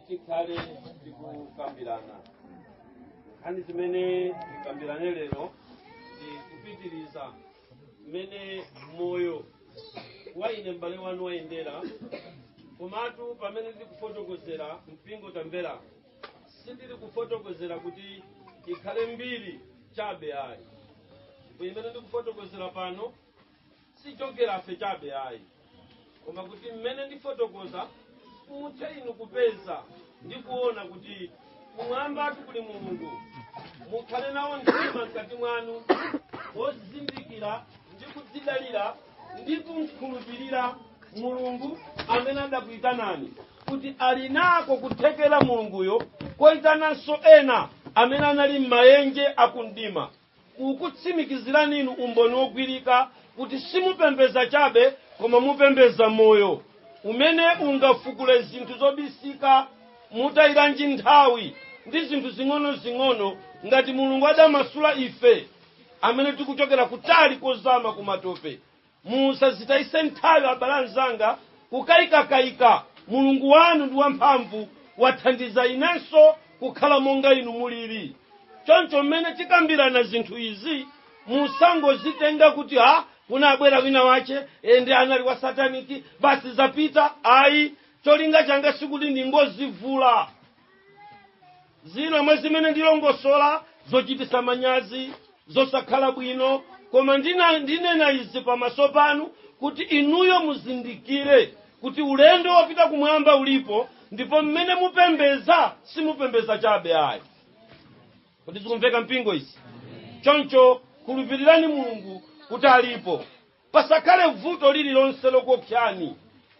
tikhale tikukambirana nkhani zimene tikambirane lero ndi kupitiriza mmene moyo wa ine m'bale wanu wayendera komatu pamene ndikufotokozera mpingo tamvera sindili kufotokozera kuti ikhale mbiri chabe ayi ndipo imene ndikufotokozera pano sichokera fe chabe ayi koma kuti mmene ndifotokoza muthe inu kupeza ndi kuona kuti kumwambatu kuli mulungu mukhale nawo mtima mkati mwanu wozindikira ndi kudzidalira ndi kumkhulupirira mulungu amene adakuyitanani kuti ali nako kuthekera mulunguyo koyitananso ena amene anali m'mayenje akumdima kukutsimikizirani inu umboni wogwirika kuti simupembedza chabe koma mupembedza moyo umene ungafukule zinthu zobisika mutayiranji nthawi ndi zinthu zing'onozing'ono ngati mulungu adamasula ife amene tikuchokera kutali kozama kumatope Musazitayise nthawi abale anzanga kukayikakayika. Mulungu wanu ndi wamphamvu, wathandiza inenso kukhala monga inu mulili. Choncho mmene tikambirana zinthu izi, musangozitenga kuti ha kunabwera wina wache ende anali wa sataniki basi zapita. Ayi, cholinga changa sikuti ndingozivula. zina mwa zimene ndilongosola zochitisa manyazi zosakhala bwino koma ndina- ndinena izi pamaso panu kuti inuyo muzindikire kuti ulendo wopita kumwamba ulipo ndipo mmene mupembeza simupembeza chabe ayi kodi zikumveka mpingo izi choncho khulupirirani mulungu kuti alipo Pasakhale vuto lililonse lokuopsani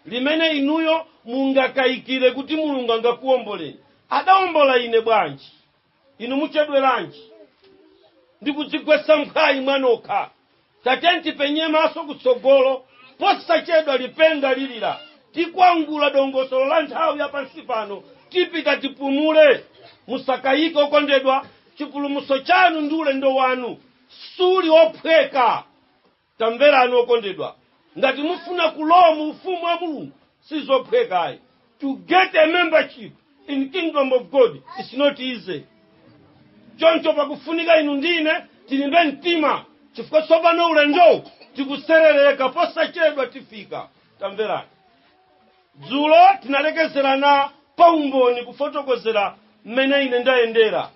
limene inuyo mungakayikire kuti Mulungu angakuwomboleni. Adawombola ine bwanji? Inu muchedweranji ndi kudzigwetsa mphwayi mwanokha? Tatiyeni tipenye maso kutsogolo. Posachedwa lipenga lilira. Tikwangula dongosolo la nthawi ya pansi pano. Tipita tipumule. Musakayike okondedwa, chipulumutso chanu ndi ulendo wanu suli ophweka. tamverani okondedwa ngati mufuna kulowa mu ufumu wa mulungu sizophwekayi to get a membership in kingdom of god is not easy choncho pakufunika inu ndi ine tilimbe mtima chifukwa tsopano ulendowu tikuserereka posachedwa tifika tamverani dzulo tinalekezerana pa umboni kufotokozera mmene ine ndayendera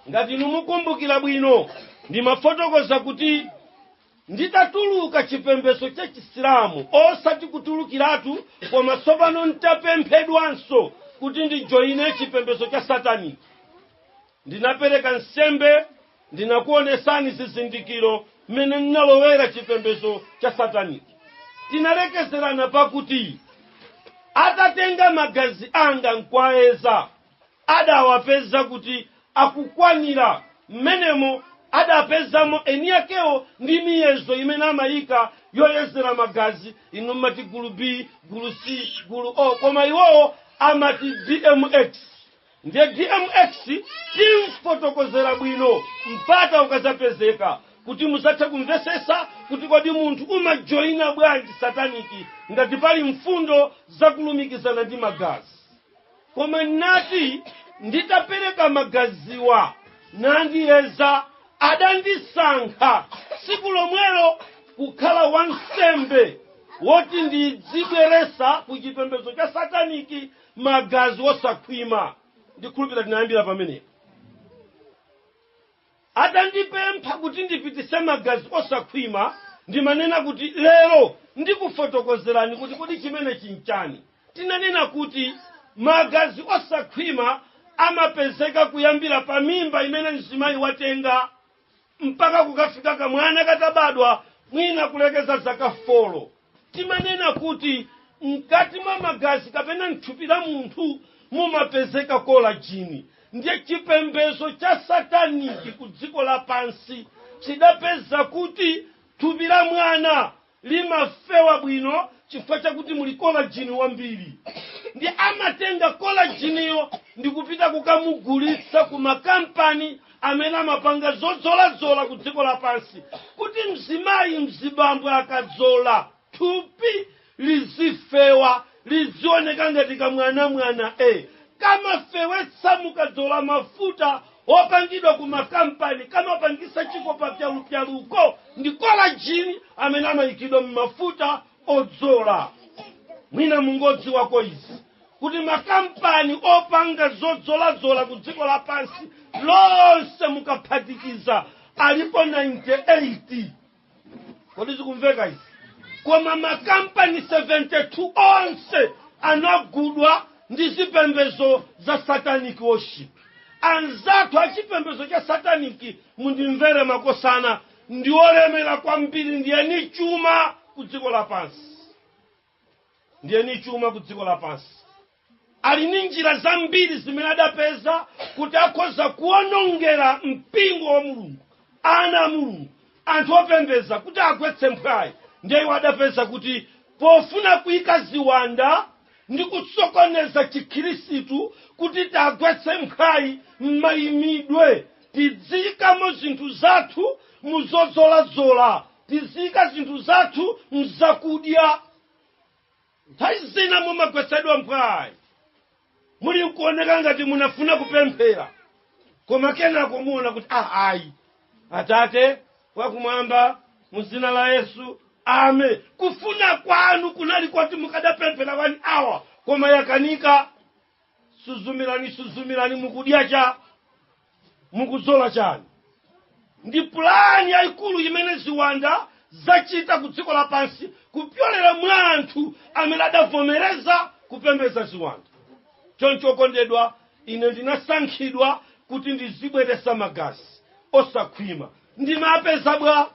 ngati inu mukumbukira bwino ndimafotokoza kuti nditatuluka chipembedzo cha chisilamu osati kutulukiratu koma tsopano ntapemphedwanso kuti ndijoyine chipembedzo cha satani ndinapereka nsembe ndinakuonesani zizindikiro mmene ndinalowera chipembedzo cha satani tinalekezerana pakuti atatenga magazi anga nkwayeza adawapeza kuti akukwanira mmenemo adapezamo eni akewo ndi miyezo imene amayika yoyezera magazi inu mmati gulu b gulu c gulu o koma iwowo amati dmx ndiye dmx tidzafotokozera bwino mpata ukazapezeka kuti muzathe kumvesesa kuti kodi munthu umajoyina bwanji sataniki ngati pali mfundo zakulumikizana ndi magazi Koma nati nditapereka magaziwa nandiyeza, adandisankha tsiku lomwelo kukhala wansembe woti ndidzibweretsa ku chipembedzo cha sataniki magazi osakhwima. Ndikhulupirira tinayambira pamenepo. Atandipempha kuti ndipititse magazi osakhwima, ndimanena kuti, Lero ndikufotokozerani kuti kodi chimenechi n'chani. Tinanena kuti magazi osakhwima amapezeka kuyambira pa mimba imene mzimayi watenga mpaka kukafika kamwana katabadwa mwina kulekeza zaka folo. Timanena kuti mkati mwa magazi kapena mthupi la munthu mumapezeka kolajini. Ndiye chipembezo cha sataniki ku dziko lapansi chidapeza kuti thupi la mwana limafewa bwino chifukwa chakuti muli kolajini wambiri. Ndiye amatenga kolajiniyo ndikupita kukamugulitsa ku makampani amene amapanga zodzoladzola ku dziko lapansi kuti mzimayi mzibambo akadzola thupi lizifewa lizioneka ngati kamwanamwana e kamafewetsa mukadzola mafuta opangidwa ku makampani kamapangisa chikopa pyalupyaluko ndi kolajini amene amayikidwa m'mafuta odzola mwina mungodziwako izi kuti makampani opanga zodzoladzola ku dziko lapansi lonse mukaphatikiza alipo 98 kodi zikumveka izi koma makampani 72 onse anagudwa ndi zipembezo za satanic worship anzathu a chipembezo cha sataniki mundimvere makosana ndi olemera kwambiri ndi eni chuma ku dziko lapansi ndiye ni chuma ku dziko lapansi ali ni njira zambiri zimene adapeza kuti akhoza kuonongera mpingo wa mulungu ana a mulungu anthu opembeza kuti agwetse mphwayi ndiye iwo adapeza kuti pofuna kuyika ziwanda ndi kusokoneza chikhirisitu kuti tagwetse mphwayi m'mayimidwe tidziyikamo zinthu zathu muzodzoladzola tiziika zinthu zathu mzakudya nthawi zina mumagwetsedwa mphwayi muli nkuoneka ngati munafuna kupemphera koma kenako muona kuti ah, ayi atate wakumwamba mu zina la yesu amen kufuna kwanu kunali koti mukadapemphera wani awa koma yakanika suzumirani suzumirani mukudya cha mukudzola chani ndi pulani yayikulu imene ziwanda zachita ku dziko lapansi kupyolera mwa anthu amene adavomereza kupembedza ziwanda choncho okondedwa ine ndinasankhidwa kuti ndizibweretsa magazi osakhwima ndimapeza bwa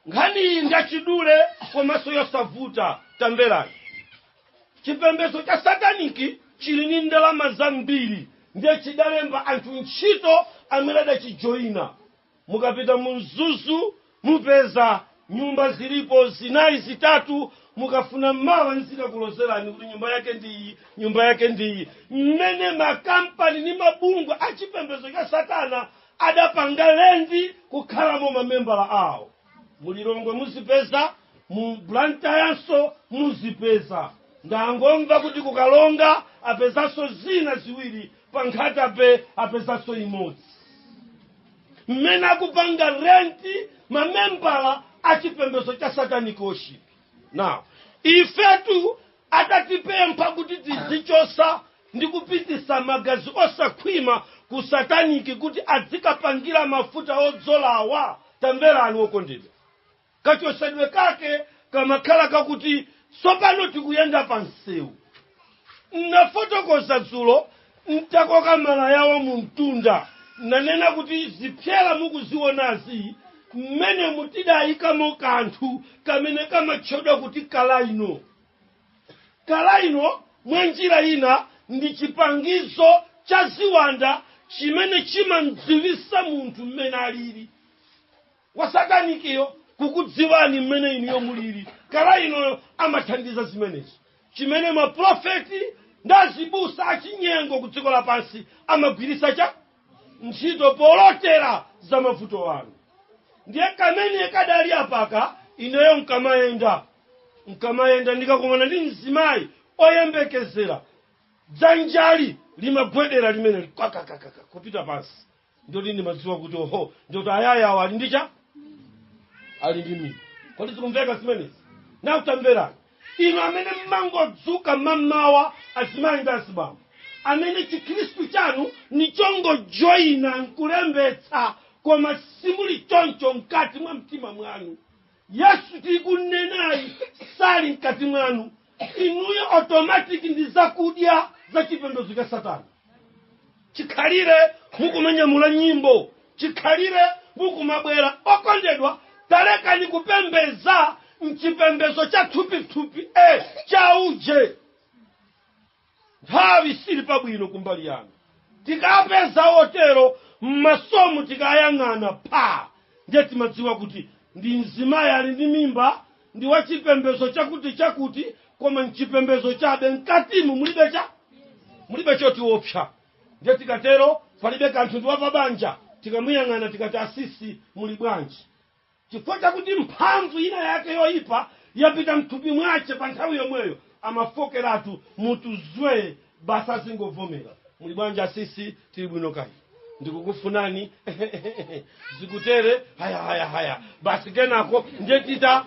nkhani iyi ndiyachidule komanso yosavuta tamverani chipembedzo cha sataniki chili ni ndalama zambiri ndiye chidalemba anthu ntchito amene adachijoyina mukapita mu mzuzu mupeza nyumba zilipo zinayi zitatu mukafuna mawa nzikakulozerani kuti nyumba yake ndiyi nyumba yake ndiyi mmene makampani ni mabungwe a chipembedzo cha satana adapanga lendi kukhalamo mamembala awo mulilongwe muzipeza mu blantyrenso muzipeza ndangomva kuti ku karonga apezanso zina ziwiri pa nkhata bay apezanso imodzi mmene akupanga renti mamembala a chipembedzo cha satanic worship now ifetu atatipempha kuti tizichosa ndi kupitisa magazi osakhwima ku sataniki kuti adzikapangira mafuta odzolawa tamverani wokondedwa kachosedwe kake kamakhala kakuti tsopano tikuyenda pa msewu nafotokoza dzulo ntakoka malayawo mu mtunda nanena kuti zipsera mukuzionazi mmenemu tidayikamo kanthu kamene kamatchedwa kuti kalaino kalaino mwa njira ina ndi chipangizo cha ziwanda chimene chimamdziwisa munthu mmene alili wa satanikiyo kukudziwani mmene inuyo mulili kala inoyo amathandiza zimenezo chimene maprofeti ndi azibusa achinyengo ku dziko lapansi amagwiritsa cha ntchito polotera za mavuto anu ndiye kamene kadali apaka ineyo nkamayenda nkamayenda ndikakumana ndi mzimayi oyembekezera dzanjali limagwedera limeneli kakakakaka kupita pansi ndoti ndimadziwa kuti oho ndoti ayaya awo ali ndi cha ali ndi mimba kodi zikumveka zimenezi nanu tamverani inu amene mmangodzuka mamawa azimayi ndi azibambo amene chikhristu chanu ni chongojoyina nkulembetsa koma simuli choncho mkati mwa mtima mwanu yesu tikunenayi sali mkati mwanu inuyo automatic ndi zakudya za chipembedzo cha satana chikhalire mukumanyamula nyimbo chikhalire mukumabwera okondedwa talekani kupembeza mchipembezo cha thupithupi e chauje nthawi sili pabwino kumbali yanu tikapeza otero mmasomu tikayang'ana pha ndiye timadziwa kuti ndi mzimayi ali ndi mimba ndi wa chipembezo chakuti chakuti koma mchipembezo chabe mkatimu mulibe cha mulibe chotiopsa ndiye tikatero palibe kanthu ndi wapabanja tikamuyang'ana tikati asisi muli bwanji Chifukwa chakuti mphamvu ina yake yoipa yapita m'thupi mwache pa nthawi yomweyo amafokeratu, mutu zwee basi azingovomera. Muli bwanji asisi? Tili bwino kaya inu? Ndikukufunani ehe-ehe-ehe-ehe zikutere haya-haya-haya basi kenako ndiye tita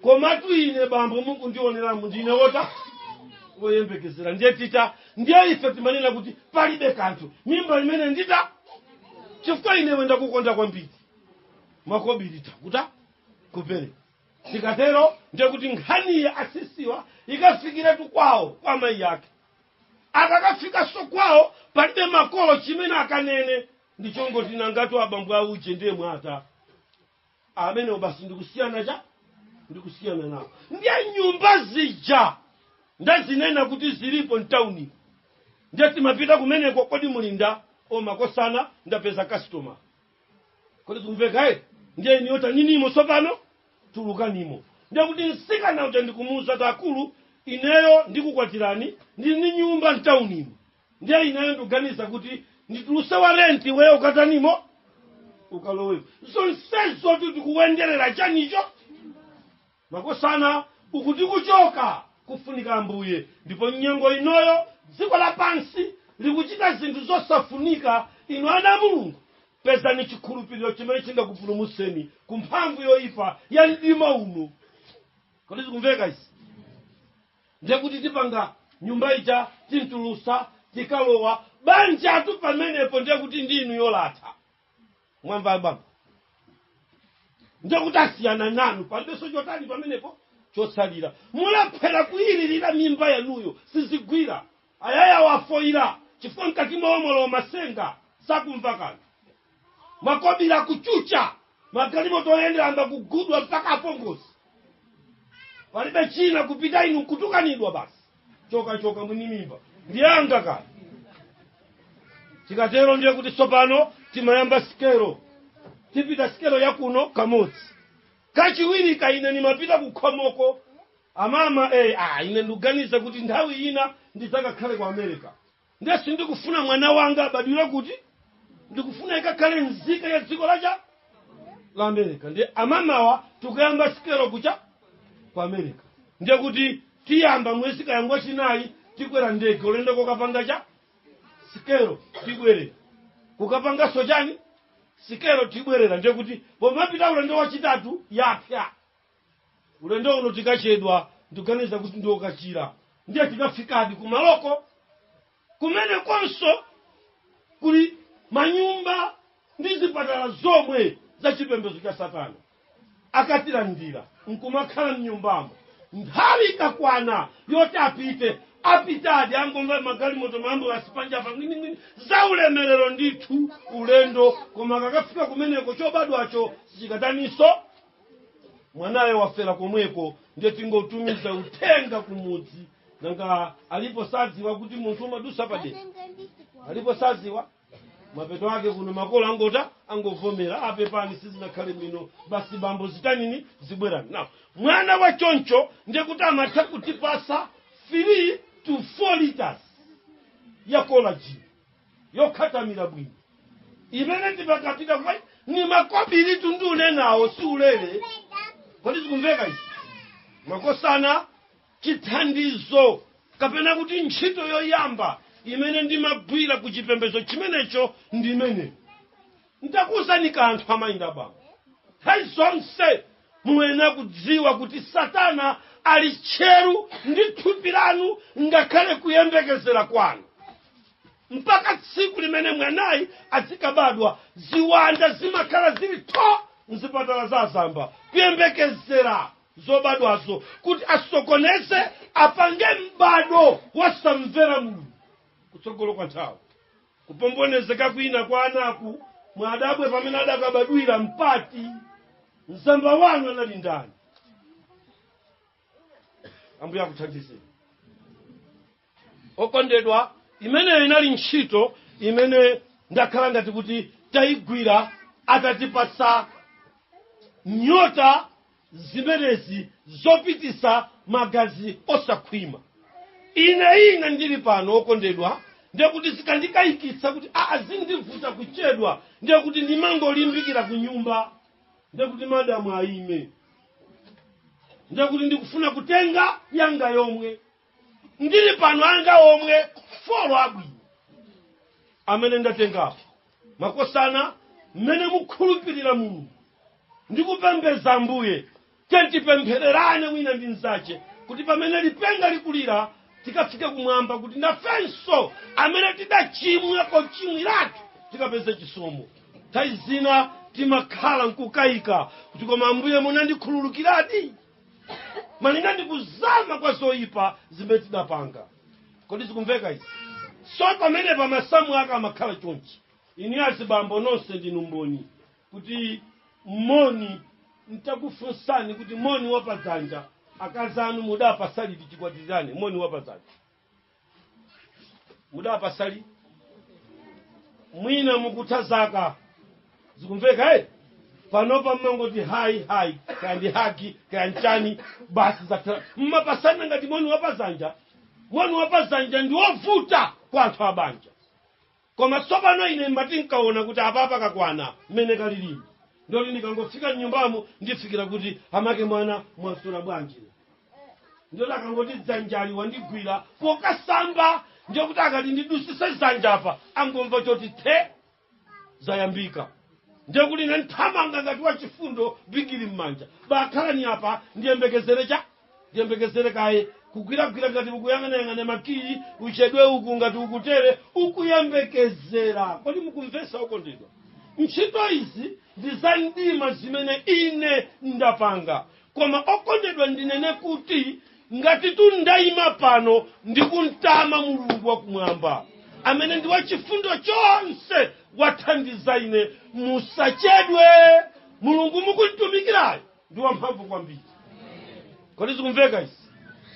Komatu ine bambo mukundioneramu ndine wota? Woyembekezera ndiye tita ndiye ife timanena kuti palibe kanthu mimba imene ndita chifukwa ine iwe ndakukonda kwambiri. makobiri takuta kupere tikatero ndiye kuti nkhani ya asisiwa ikafikiretu kwawo kwa mayi ake akakafikanso kwawo palibe makolo chimene akanene ndichongoti nangatu abambo auje ndiye mwata amenewo basi ndikusiyana cha ndikusiyana nawo ndiye nyumba zija ndazinena kuti zilipo mtauni ndiye timapita kumeneko kodi mulinda omakosana ndapeza customer kodi zikumveka eti ndiye inuyo taninimo tsopano tulukanimo ndiye kuti msikana uja ndikumuuza kuti akulu ineyo ndikukwatirani ndili ndi nyumba mtaunimo ndiye ineyo ndikuganiza kuti ndituluse wa renti iweyo ukatanimo ukalowepo zonsezo tikuwenderera chanicho Makosana uku tikuchoka kufunika Ambuye, ndipo m'nyengo inoyo dziko lapansi likuchita zinthu zosafunika. Inu ana a Mulungu, pezani chikhulupiriro chimene chingakupulumutseni ku mphamvu yoyipa ya mdima uno. Kodi zikumveka izi? Ndiye kuti tipanga nyumba ija timtulusa tikalowa banjatu pamenepo, ndiye kuti ndi inuyo latha. mwamva baba ndekuti asiyana nanu palibenso chotani pamenepo chotsalira mulephera kuyilirira mimba yanuyo sizigwira ayaya wafoyira chifukwa mkati mwawo mwalowa masenga sakumva kanthu makobiri akuchucha magalimoto oyendera ayamba kugudwa mpaka apongozi palibe china kupita inu nkutukanidwa basi choka choka mwini mimba ndi yanga kaya tikatero ndiye kuti tsopano timayamba sikelo tipita sikelo yakuno kamodzi kachiwirika ine ndimapita kukhomoko amama eh, ah, ine ndikuganiza kuti nthawi ina ndidzakakhale ku america nde sindikufuna mwana wanga abadwire kuti ndikufuna ikakhale nzika ya dziko la cha la america ndiye mamawa tikuyamba sikelo ku cha ku america ndiye kuti tiyamba mwezi kaya ngwa chinayi tikwera ndege ulendo kokapanga cha sikelo tibwerera kukapanganso chani sikelo tibwerera ndiye kuti pomapita ulendo wachitatu yapya Ulendo uno tikachedwa ndikuganiza kuti ndi wokachira ndiye tikafikadi kumaloko kumenekonso kuli manyumba ndi zipatala zomwe za chipembedzo cha satana akatilandira nkumakhala mnyumbamo nthawi ikakwana yoti apite apitadi angomva magalimoto maambulansi panjapa ngwiningwini za ulemerero ndithu ulendo koma akakafika kumeneko chobadwacho sichikataninso mwanayo wafera komweko ndiye tingotumiza uthenga kumudzi nanga alipo sadziwa kuti munthu umadusa padera alipo sadziwa mapeto ake kuno makolo angota angovomera a pepani sizinakhale bwino basi bambo zitanini zibwerani nawo mwana wa choncho ndiye kuti amatha kutipasa 3 to 4 liters ya kolaji yokhathamira bwino imene timakapita kwa ni makobiritu ndikunenawo si ulere kodi zikumveka izi makosana chithandizo kapena kuti ntchito yoyamba imene ndimagwira ku chipembedzo chimenecho ndi imeneyo Ndakuuzani kanthu amayi ndi abambo. Nthawi zonse muyenera kudziwa kuti Satana ali tcheru ndi thupi lanu ngakhale kuyembekezera kwanu. Mpaka tsiku limene mwanayi azikabadwa, ziwanda zimakhala zili tho m'zipatala za azamba kuyembekezera zobadwazo kuti asokoneze, apange m'bado wasamvera Mulungu kutsogolo kwa nthawi. Kupombonezeka kwina kwa anaku mwadabwe pamene adakabadwira mmati mzamba wanu anali ndani? Ambuye akuthandizeni. Okondedwa, imeneyo inali ntchito imene ndakhala ngati kuti tayigwira atatipatsa nyota zimenezi zopitisa magazi osakhwima ine ine ndili pano okondedwa ndiye kuti zikandikayikitsa kuti azindivuta kuchedwa ndiye kuti ndimangolimbikira ku nyumba ndiye kuti madamu ayime ndiye kuti ndikufuna kutenga yanga yomwe ndili pano anga omwe folo abwino amene ndatengapo makosana amene mukhulupirira mulungu ndikupembedza ambuye tiyeni tipemphererane wina ndi mzace kuti pamene lipenga likulira tikafike kumwamba kuti nafenso amene tidachimwako chimwiratu tikapeze chisomo nthawi zina timakhala nkukayika kuti koma ambuye munandikhululukiradi malinga ndi kuzama kwa zoyipa zimene tidapanga kodi zikumveka izi so pamene pa masamu ake amakhala chonchi inu azibambo nonse ndinu mboni kuti moni ntakufunsani kuti moni wapadzanja akazi anu mudapasa liti chikwatirane moni wapadzanja mudawapasa liti mwina mukutha zaka zikumveka eh? panopa mmangoti hayi hayi kaya ndi hagi kaya nchani basi zatha mmapasana ngati moni wapazanja moni wapazanja ndi wovuta kwa anthu abanja Koma tsopano ine ndimati nkawona kuti apapa kakwana mmene kalilimi. Ndiye kuti ndikangofika mnyumbamo ndifikira kuti amake mwana mwaswera bwanji. Ndiye kuti akangoti dzanjali wandigwira pokasa aba ndiye kuti akati ndidusise dzanja apa angomva choti the zayambika. Ndiye kuti ine nthamanga ngati wachifundo bigiri mmanja. Bakhalani apa ndiyembekezere cha ndiyembekezere kaye kugwiragwira ngati ukuyang'anayang'ana makiyi uchedwe uku ngati ukutere ukuyembekezera kodi mukumvesa okondedwa ntchito izi ndi za mdima zimene ine ndapanga koma okondedwa ndinene kuti ngati tundayima pano ndikuntama mulungu wakumwamba amene ndi wachifundo chonse wathandiza ine musachedwe mulungu mukumutumikirayo ndi wamphamvu kwambiri kodi zikumveka izi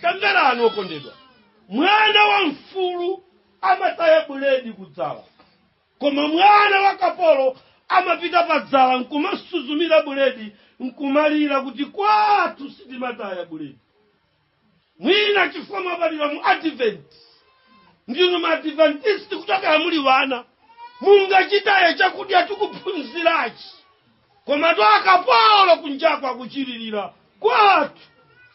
tamverani okondedwa mwana wa mfulu amataya buledi kudzala koma mwana wa kapolo amapita pa dzala nkumasuzumira buledi nkumalira kuti kwathu sitimataya buledi mwina chifukwa mwabadwira mu advent ndinu maadventist kuchokera muli wana mungachitaye chakudya tikuphunzirachi koma tu akapolo kunjako akuchilirira kwathu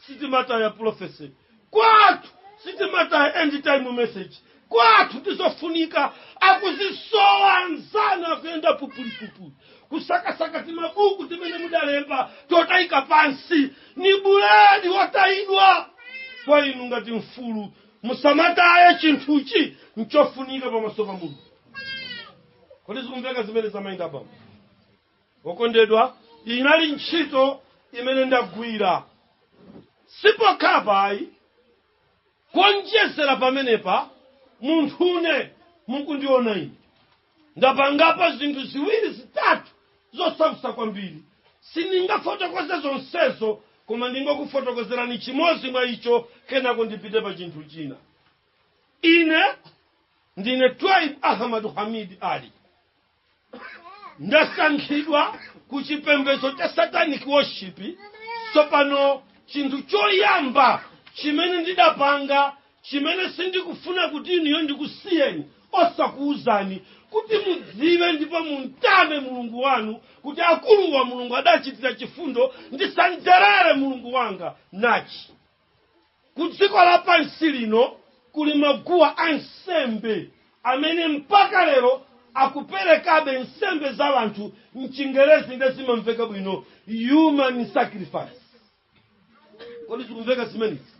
sitimataya prophecy kwathu sitimataya end time message kwathu ndizofunika akuzisowa anzanu akuyenda pupulipupuli kusakasaka timabuku timene mudalemba totayika pansi ni buledi watayidwa kwa inu ngati mfulu musamataye chinthuchi nchofunika pamaso pa mulungu kodi zikumveka zimene zamayenda bambo okondedwa inali ntchito imene ndagwira sipokhapo ayi Kuonjezera pamenepa, munthune mukundiona ine, ndapangapo zinthu ziwiri zitatu zosautsa kwambiri. Sindingafotokoze zonsezo, koma ndingokufotokozerani chimodzi mwa icho, kenako ndipite pa chinthu china. Ine ndine Twaib Ahmad Hamid Ali. ndasankhidwa ku chipembedzo cha satanic worship tsopano chinthu choyamba chimene ndidapanga chimene sindikufuna kuti inuyo ndikusiyeni osakuwuzani kuti mudziwe ndipo mumtame mulungu wanu kuti akulu awa mulungu adachitira chifundo ndisanjerere mulungu wanga nachi ku dziko lapansi lino kuli maguwa a nsembe amene mpaka lero akuperekabe nsembe za wanthu mchingerezi nde zimamveka bwino human sacrifice kodi zikumveka zimenezi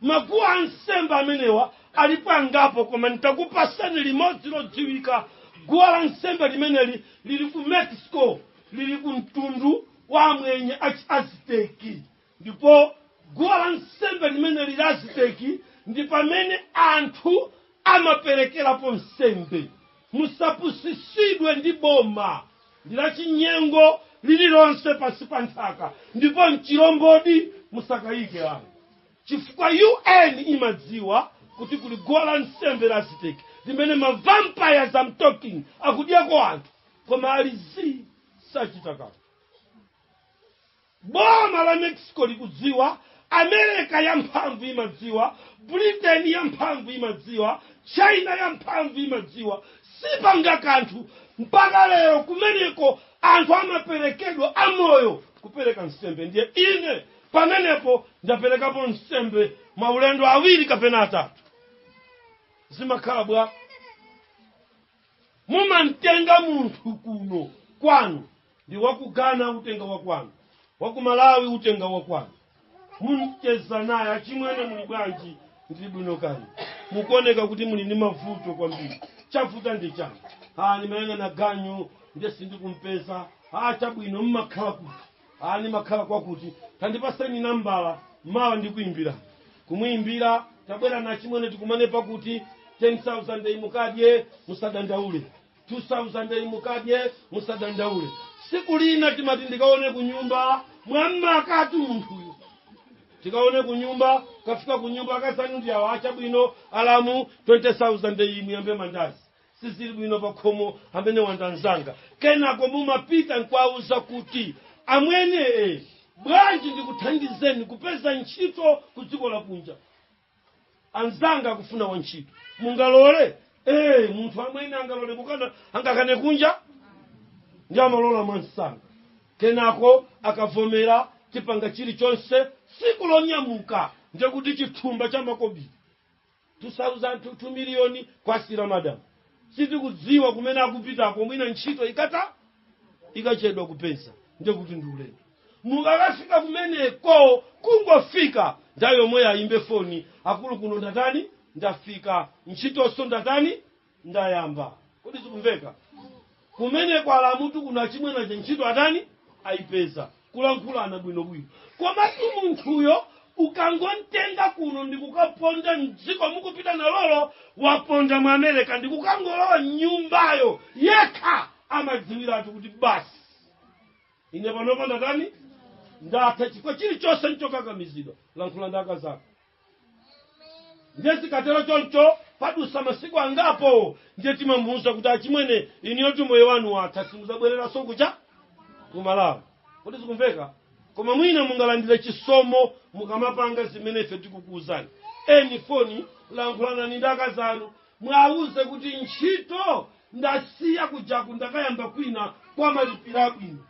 maguwa a nsembe amenewa alipo angapo koma nitakupasani limodzi lodziwika guwa la nsembe limeneli lili ku mexico lili ku mtundu wa amwenye achiaziteki Ndipo guwa la nsembe limeneli la Aziteki ndi pamene anthu amaperekerapo nsembe. Musapusitsidwe ndi boma, ndi lachinyengo lililonse pansi pa nthaka, ndipo n'chilombodi. Musakayike ayi, chifukwa UN imadziwa kuti kuli guwa la nsembe la Aziteki limene ma vampires I'm talking akudyako anthu, koma ali zii, sachita kanthu. Boma la Mexico likudziwa, America yamphamvu imadziwa, Britain yamphamvu imadziwa, China yamphamvu imadziwa, sipanga kanthu mpaka lero kumeneko anthu amaperekedwa amoyo kupereka nsembe ndiye ine pamenepo ndaperekapo nsembe maulendo awiri kapena atatu zimakhala bwa mumamtenga munthu kuno kwanu ngati wa ku Ghana utenga wakwanu wakumalawi utenga wakwanu mumacheza naye achimwene muli bwanji ndili bwino kani mukuoneka kuti muli ndi mavuto kwambiri chavuta ndi chani ah ndimayang'ana ganyu ndiye sindikuipeza ah chabwino mmakhala kuti a ndimakhala kwakuti tandipaseni nambala mawa ndikuimbira kumuimbira tabwerani achimwene tikumane pakuti 10000 iyi mukadye musadandaule 2000 iyi mukadye musadandaule tsiku lina timati ndikaone kunyumba mwamakatu munthuyo tikaone kunyumba kafika kunyumba akazanu ndi awa chabwino alamu 20000 iyi muyambe mandazi sizili bwino pakhomo amwenewa nda nzanga kenako mumapita nkuwauza kuti amwene e bwanji ndikuthandizeni kupeza ntchito ku dziko lakunja anzanga akufuna wantchito mungalole e munthu amwene angalole kukana angakane kunja ndiye amalola mwamsanga kenako akavomera tipanga chilichonse tsiku lonyamuka ndiye kuti chithumba cha makobiri 2000 2 miliyoni kuwasiyira madam sitikudziwa kumene akupitako mwina ntchito ikata ikachedwa kupeza ndiye kuti ndi ulendo mukakafika kumeneko kungofika nthawi yomweyo ayimbe foni akulu kuno ndatani ndafika ntchitonso ndatani ndayamba kodi zikumveka kumeneko alamutu kuno achimwene aja ntchito atani ayipeza kulankhulana bwinobwino komatu munthuyo ukangomtenga kuno ndikukaponda mdziko mukupita nalolo waponda mu america ndikukangolowa mnyumbayo yekha amadziwiratu kuti basi ine panopa ndatani ndatha chifukwa chilichonse nchokakamizidwa lankhula nda akazako ndiye zikatero choncho padusa masiku angapo ndiye timamuuza kuti achimwene inuyotu moyo wanu watha simuzabwereranso kuja kumalawi kodi zikumveka koma mwina mungalandire chisomo mukamapanga zimene ife tikukuuzani eni foni lankhulanani ndi akazi anu mwauze kuti ntchito ndasiya kujaku ndakayamba kwina komalipira bwino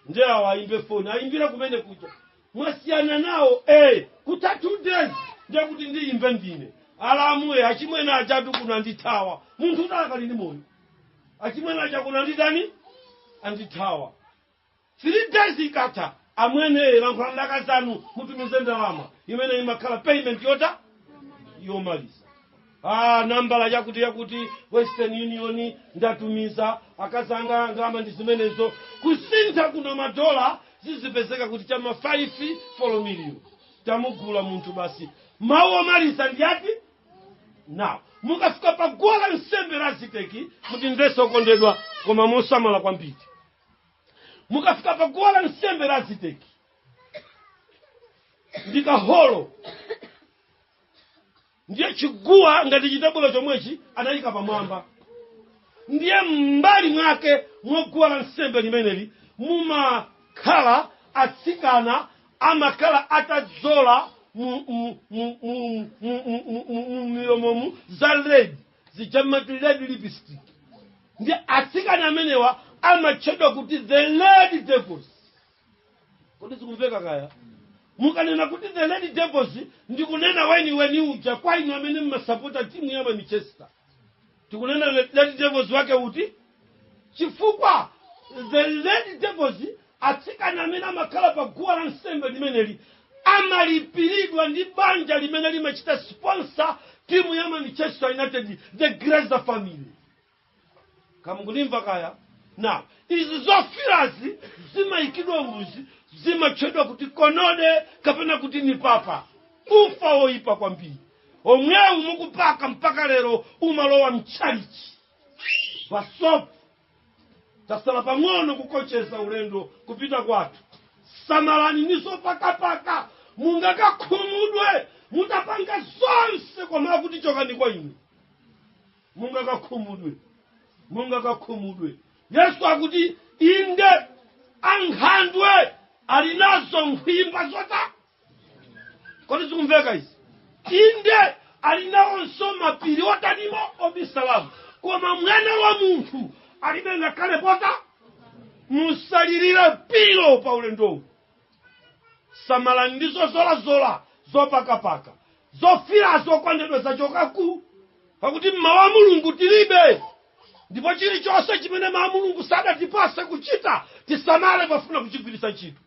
ndiye awa ayimbe foni ayimbire kumene kuja mwasiyana nawo eh kutha two days ndiye kuti ndiyimbe ndine alamu eh achimwene ajatu kuno andithawa munthutu akali ndi moyo achimwene aja kuno anditani andithawa three days ikatha Amwene lankhulani ndi akazi anu mutumize ndalama imene imakhala payment yotani yomaliza ah, nambala yakuti yakuti western union ndatumiza akazi anga ndalama ndi zimenezo kusintha kuno madola zizipezeka kuti chama 5 folo miliyoni tamugula munthu basi mawu omaliza ndi ati nawo mukafika pa guwa la nsembe la aziteki mutimvese okondedwa koma mosamala kwambiri mukafika pa guwa la nsembe la aziteki ndi kaholo ndiye chiguwa ngati chitebulo chomwechi anayika pamwamba ndiye m'mbali mwake mwaguwa la nsembe limeneli mumakhala atsikana amakhala atadzola mu milomomu za red zija amati red lipstick ndiye atsikana amenewa amatchedwa kuti the red devils kodi zikumveka kaya mukanena kuti the red devils ndi kunena weni weni uja kwa inu amene mmasapota timu ya manchester tikunena red devils wake uti Chifukwa, the Red Devils, atsikana amene amakhala pa guwa la nsembe limeneli, amalipiridwa ndi banja limene limachita sponsor timu ya Manchester United, the Glazer family. Kaya mukundimva kaya? Now, izi zofiirazi zimayikidwa ruzi, zimatchedwa kuti konode kapena kuti ni papa. Ufa woyipa kwambiri. Omwewu mukupaka mpaka lero umalowa mtchalichi. basopo tasala pang'ono kukocheza ulendo kupita kwathu samalani nazo zopakapaka mungakakhumudwe mutapanga zonse koma akuti chokani kwa ine mungakakhumudwe mungakakhumudwe yesu akuti inde ankhandwe ali nazo nkhwimba zawo kodi zikumveka izi inde ali nawonso mapiri otanimo obisalamu koma mwana wa munthu alibe ngakhale pota musalirire pilo pa ulendowu samalani ndi zozolazola zopakapaka zofirazo okondedwa zachokaku pakuti mmawu a mulungu tilibe ndipo chilichonse chimene mawu a mulungu sadatipase kuchita tisamale pafuna kuchigwiritsa ntchito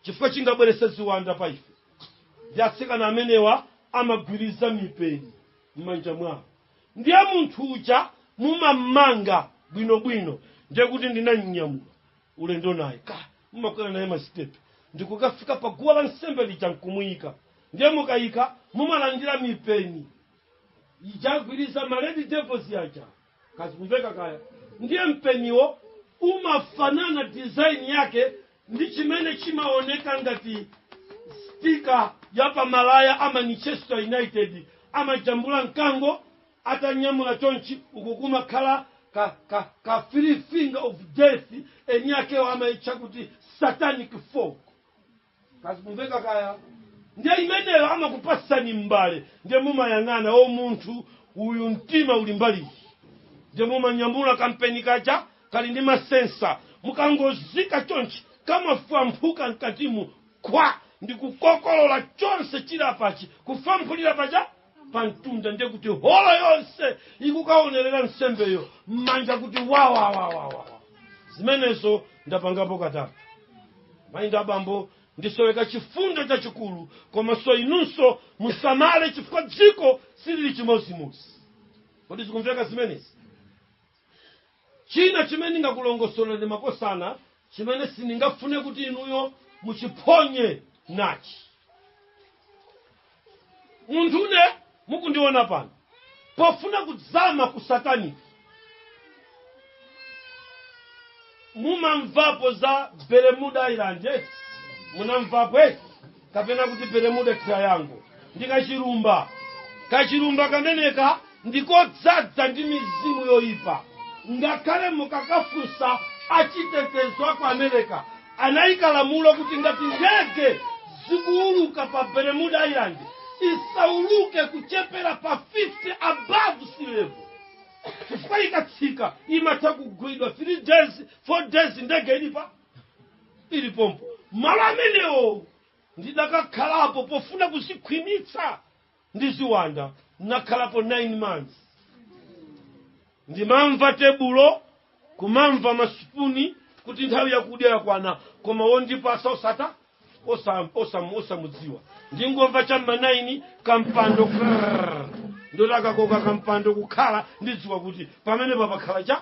Chifukwa chingabweretse ziwanda pa ife ndi atsikana amenewa amagwiriza mipeni m'manja mwawo. Ndiye munthu uja mumammanga bwinobwino ndiye kuti ndinamnyamula ulendo naye ka mumakwera naye masitepe ndi kukafika pa guwa la nsembe lija nkumuyika. Ndiye mukayika mumalandira mipeni ija agwiriza ma Red Devils aja. kazikumveka kaya ndiye mpeniwo umafanana design yake ndi chimene chimaoneka ngati stika ya pamalaya a manchester united amajambula mkango atanyamula chonchi uku kumakhala ka, ka, ka three finger of death eni akewo amayitcha kuti satanic fork kazikumveka kaya ndiye imeneyo amakupasani m'mbale ndiye mumayang'ana o munthu uyu mtima uli mbaliyi ndiye mumanyamula kampeni kaja kali ndi masensa mukangozika chonchi kamafwamphuka mkatimu kwa ndikukokolola chonse chili apachi kufwamphulira paja pa mtunda ndiye kuti holo yonse ikukaonerera nsembeyo m'manja kuti wawawawawa zimenezo ndapangapo katatu mayi ndi abambo ndisoweka chifundo chachikulu komanso inunso musamale chifukwa dziko silili chimodzimodzi kodi zikumveka zimenezi China chimene ndingakulongosoleni makosana, chimene sindingafune kuti inuyo muchiphonye, nachi. Munthune mukundiona pano, pofuna kudzama ku satanic, mumamvapo za Bermuda Island, eti? Munamvapo, eti? kapena kuti bermuda triangle ndi kachilumba kachilumba kameneka ndikodzadza ndi mizimu yoyipa ngakhale mukakafunsa achitetezo aku america anayika lamulo kuti ngati ndege zikuuluka pa bermuda island isauluke kuchepera pa 50 above sea level chifukwa ikatsika imatha kugwidwa 3 days 4 days ndege ili pa ili pompo malo amenewo ndidakakhalapo pofuna kuzikhwimitsa ndi ziwanda nakhalapo 9 months ndimamva tebulo kumamva masipuni kuti nthawi yakudya yakwana koma wondipasa osata osam- osam- osamudziwa ndingomva chamma 9 kampando krrrr. ndotakakoka kampando kukhala ndidziwa kuti pamenepa pakhala cha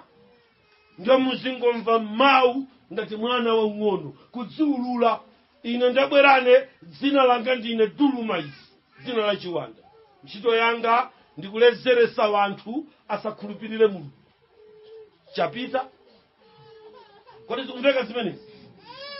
ndiye muzingomva mawu ngati mwana wang'ono kudziulula ine ndabwera ine dzina langa ndine dulumaisi dzina la chiwanda ntchito yanga ndikulezeresa wanthu asakhulupirire mulungu chapita kodi zikumveka zimenezi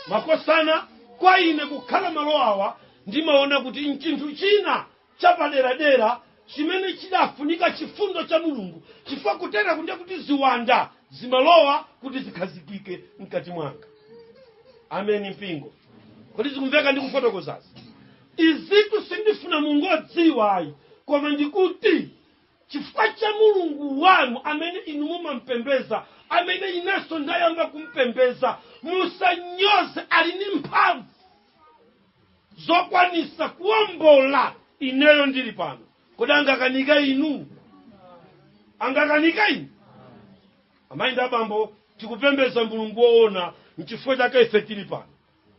makosana kwa ine kukhala malo awa ndimaona kuti nchinthu china chapaderadera chimene chidafunika chifundo cha Mulungu chifukwa kuteraku ndiye kuti ziwanda zimalowa kuti zikhazikike mkati mwanga. Ameni mpingo. Kodi zikumveka ndikufotokozazi? Izitu sindifuna mungodziwa ayi koma ndikuti chifukwa cha mulungu wanu amene inu mumampembeza amene inenso ndayamba kumpembeza musanyoze ali ndi mphamvu zokwanisa kuombola ineyo ndili pano kodi angakanika inu angakanika inu amayi ndi abambo tikupembeza mulungu woona mchifukwa chake ife tili pano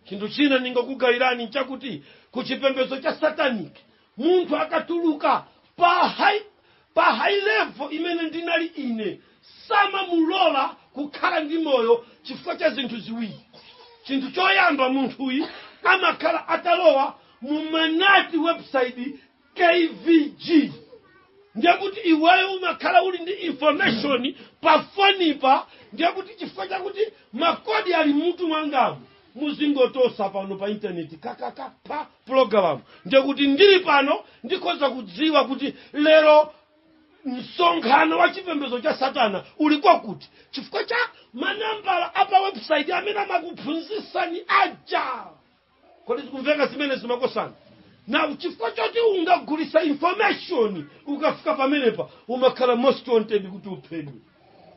chinthu china ndingakugayirani nchakuti kuchipembezo cha sataniki Munthu akatuluka pa high, pa high level imene ndinali ine samamulola kukhala ndi moyo chifukwa cha zinthu ziwiri. Chinthu choyamba munthuyi amakhala atalowa mumanati website KVG ndiye kuti iweyo umakhala uli ndi information pa fonipa ndiye kuti chifukwa chakuti makodi ali mutu mwangamu muzingotosa pano pa intaneti kakaka pa pulogalamu ndiye kuti ndili pano ndikhoza kudziwa kuti lero msonkhano wa chipembedzo cha satana uli kwakuti chifukwa cha manambala a pa website amene amakuphunzitsani aja kodi zikumveka zimenezi makosana nawu chifukwa choti ungagulitsa information ukafika pamenepa umakhala most wanted kuti uphedwe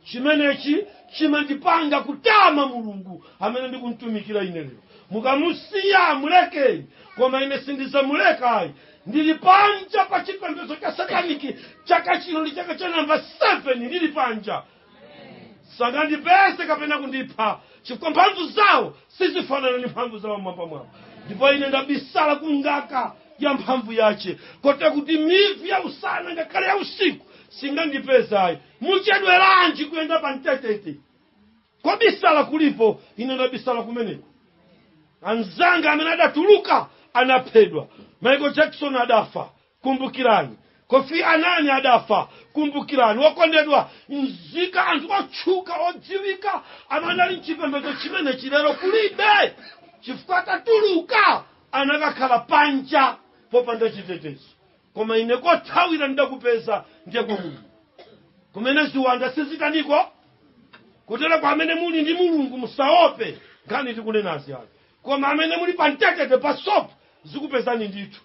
chimenechi chimandipanga kutama mulungu amene ndikumtumikira ine lero mukamusiya mulekeni koma ine sindizamulekayi ndili panja pa chipembedzo cha sataniki chaka chino ndi chaka cha namba 7 ndili panja sangandipeze kapena kundipha chifukwa mphamvu zawo sizifanana ndi mphamvu za wamwambamwamba ndipo ine ndabisala ku ngaka ya mphamvu yace kotero kuti mivi ya usana ngakhale ya usiku singandipeze ayi muchedweranji kuyenda pa mtetete kobisala kulipo ine ndabisala kumeneko anzanga amene adatuluka anaphedwa michael jackson adafa Kumbukirani, Kofi Annan adafa. Kumbukirani, wokondedwa, nzika, anthu otchuka, odziwika, amene anali m'chipembedzo chimenechi, lero kulibe, chifukwa atatuluka anakakhala panja popanda chitetezo. Koma ine kothawira ndidakupeza ndiye kwa Mulungu, kumene ziwanda sizitaniko kutereko. Amene muli ndi Mulungu, musaope nkhani tikunenazi ayi. koma amene muli pa mtetete pasopo zikupezani ndithu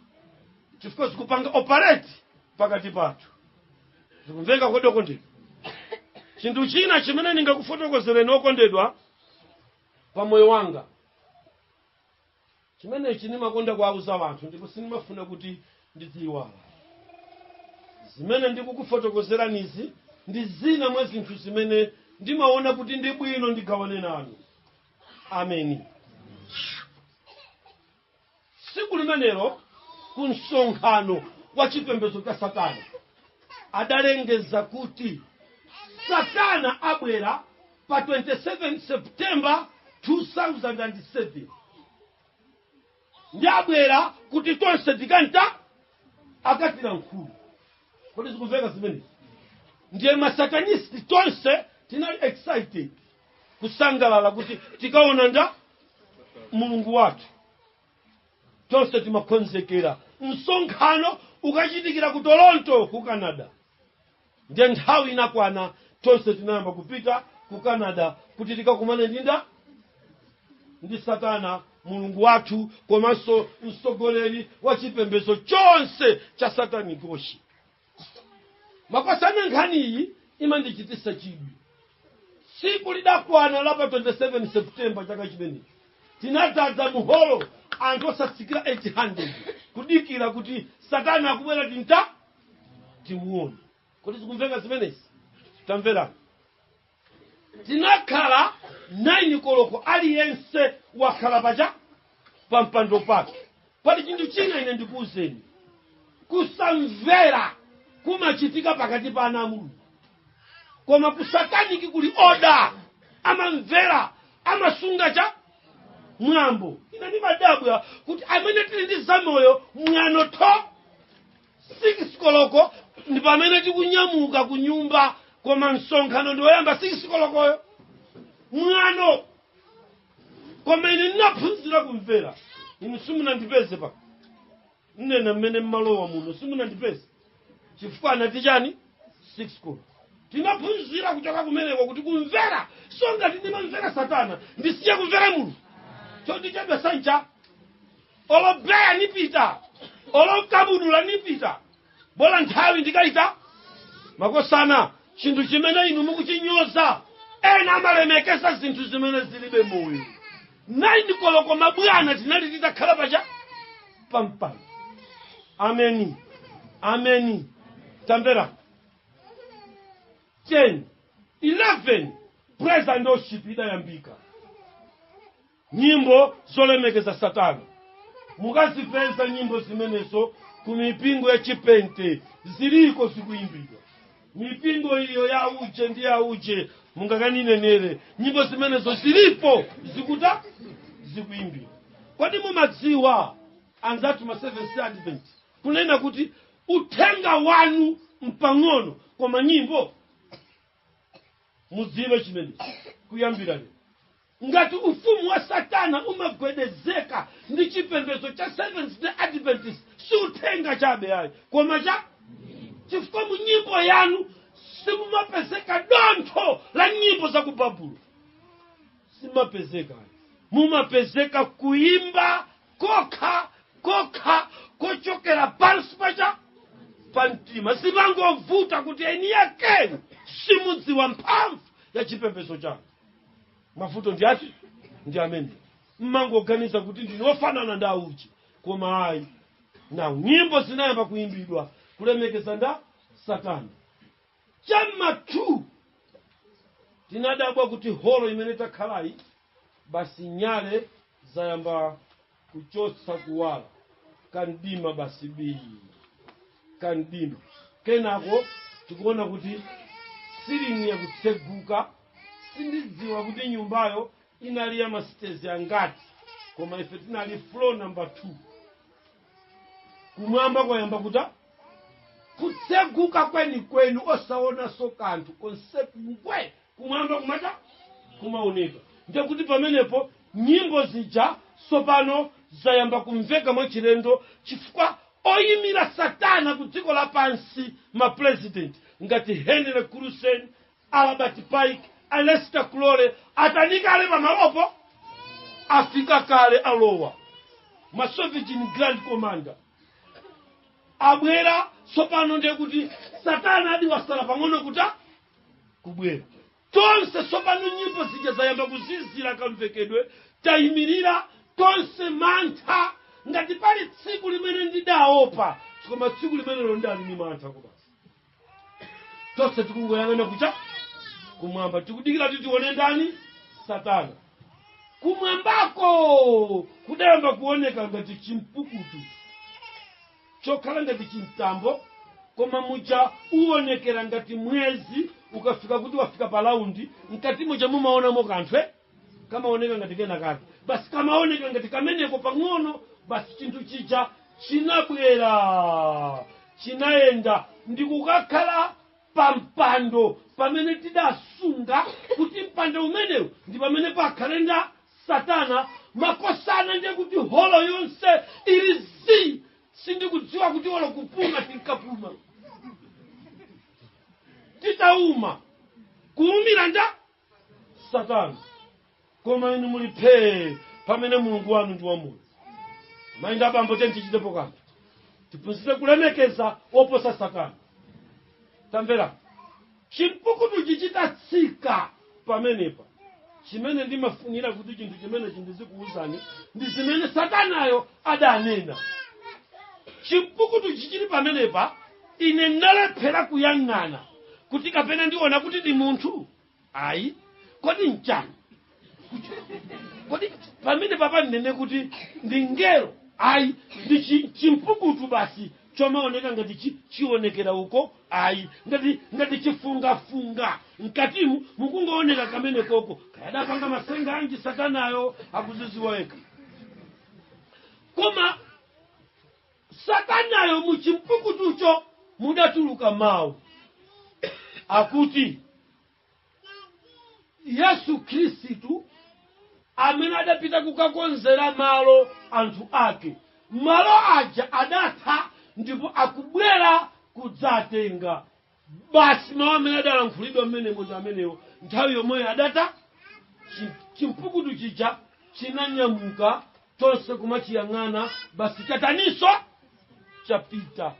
chifukwa zikupanga operate pakati pathu zikumveka kodi okondedwa chinthu china chimene ndingakufotokozereni okondedwa pa moyo wanga chimenechi ndimakonda kuwauza wanthu ndipo sindimafuna kuti ndidziyiwala zimene ndikukufotokozeranizi ndi zina mwa zinthu zimene ndimaona kuti ndi bwino ndigawane nanu ameni tsiku limenelo ku msonkhano wa chipembedzo cha satana adalengeza kuti satana abwera pa 27 september 2007 ndiye abwera kuti tonse tikanta akatilankhule kodi zikumveka zimenezi ndiye masatanisti tonse tinali excited kusangalala kuti tikaona nda mulungu wathu tonse timakonzekera msonkhano ukachitikira ku toronto ku canada Ndiye nthawi inakwana, tonse tinayamba kupita ku Canada kuti tikakumane ndi nda ndi Satana mulungu wathu komanso mtsogoleri wa chipembedzo chonse cha satanikichi. Makosana nkhaniyi imandichititsa chidwi. Tsiku lidakwana la pa 27 September chaka chimenechi tinadzadza muholo anthu osatsikira 800 kudikira kuti Satana akubwera tinta timuone kodi zikumveka zimenezi tamverani tinakhala 9 koloko aliyense wakhala pa cha pa mpando pake pali chinthu china ine ndikuwuzeni kusamvera kumachitika pakati pa ana a mulungu koma kusataniki kuli oda amamvera amasunga cha mwambo ine ndimadabwa kuti amene tili ndi za moyo mwano tho 6 koloko ndi pamene tikunyamuka ku nyumba koma msonkhano ndi woyamba 6 kolokoyo mwano koma ine ndinaphunzira kumvera inu simunandipeze pa nnena mmene mmalowa muno simunandipeze chifukwa anati chani 6 koloko tinaphunzira kuchoka kumeneko kuti kumvera so ngati ndimamvera satana ndisiye kumvera munthu chodichedwa sancha olobeya nipita olokabudula nipita bola nthawi ndikaita makosana chinthu chimene inu mukuchinyoza ena amalemekeza zinthu zimene zilibe moyo 9 koloko mabwana tinali titakhala pacha pampano ameni ameni tamvera 10 11 praise and worship idayambika Nyimbo zolemekeza Satana. Mukazipeza nyimbo zimenezo ku mipingo ya Chipente, ziliko zikuyimbidwa. Mipingo iyo ya uje ndi ya uje, mungakaninenere nyimbo zimenezo zilipo zikuta zikuyimbidwa. Kodi mumadziwa anzanthu ma Seventh Day Advent kunena kuti uthenga wanu mpang'ono koma nyimbo? Mudziwe chimenechi kuyambira lero. Ngati ufumu wa Satana umagwedezeka ndi chipembedzo cha Seventh-day Adventist, si uthenga chabe ayi, koma cha chifukwa mu nyimbo yanu simumapezeka dontho la nyimbo za ku Babulo, simapezeka. mumapezeka kuimba kokha kokha kochokera pansi pacha pa mtima zimangovuta kuti eni ake simudziwa mphamvu ya chipembedzo chanu mavuto ndi ati ndi amene mmangoganiza kuti ndinu ofanana ndi auchi koma ayi na nyimbo zinayamba kuyimbidwa kulemekeza nda satana chama 2 tinadabwa kuti holo imene takhalayi basi nyale zayamba kuchotsa kuwala kamdima basi bii kamdima kenako tikuona kuti siling'i yakutseguka sindidziwa kuti nyumbayo inali ya masitezi angati koma ife tinali floor number 2 kumwamba kwayamba kuta kutseguka kwenikweni osaonanso kanthu konse kungwe kumwamba kumata kumaunika ndiye kuti pamenepo nyimbo zija tsopano zayamba kumveka mwachilendo chifukwa oyimira satana ku dziko lapansi mapurezidenti ngati henry clausen albert pike aleister crowley atanikale pamalopo afika kale alowa masovereign grand commander abwera tsopano ndiye kuti satana adi wasala pang'ono kuta kubwera tonse tsopano nyimbo zija zayamba kuzizira kamvekedwe tayimirira tonse mantha ngati pali tsiku limene ndidaopa koma tsiku limenelo ndali ni mantha kobasi tonse tikungoyang'ana kucha kumwamba tikudikira kuti tione ndani satana kumwambako kudayamba kuoneka ngati chimpukutu chokhala ngati chimtambo koma muja uonekera ngati mwezi ukafika kuti wafika pa laundi mkati muja mumaonamo kanthu eh? kamaoneka ngati kena kake basi kamaoneka ngati kameneko pang'ono basi chinthu chija chinabwera chinayenda ndikukakhala pampando pamene tidasunga kuti mpando umenewu ndi pamene pakhale nda satana makosana ndiye kuti holo yonse ili zii sindikudziwa kuti olo kupuma tinkapuma titauma kuumira nda satana koma inu muli phee pamene mulungu wanu ndi wamoyo mayi nda abambo tiyeni tichitepo kanthu tiphunzire kulemekeza woposa satana tamvera Chimpukutuchi chitatsika pamenepa, chimene ndimafunira kuti chinthu chimenechi ndizikuwuzani ndi zimene Satanayo adanena. Chimpukutuchi chili pamenepa, ine ndinalephera kuyang'ana kuti kapena ndiona kuti ndi munthu? Ayi. Kodi n'chani? kodi pamene papa ndinene kuti ndi ngelo ayi ndi chi- chimpukutu basi chomaoneka ngati chi- chionekera uko ayi ngati chifungafunga mkatimu mukungooneka kamene koko kaya adapanga matsenga anji satanayo akuzidziwa yekha koma satanayo muchimpukutucho mudatuluka mawu akuti yesu khristu amene adapita kukakonzera malo anthu ake malo aja adatha ndipo akubwera kudzatenga basi mawu amene adalankhulidwa mmenemo ndi amenewo nthawi yomweyo adata chi- chimpukutu chija chinanyamuka tonse kumachiyang'ana basi chataninso chapita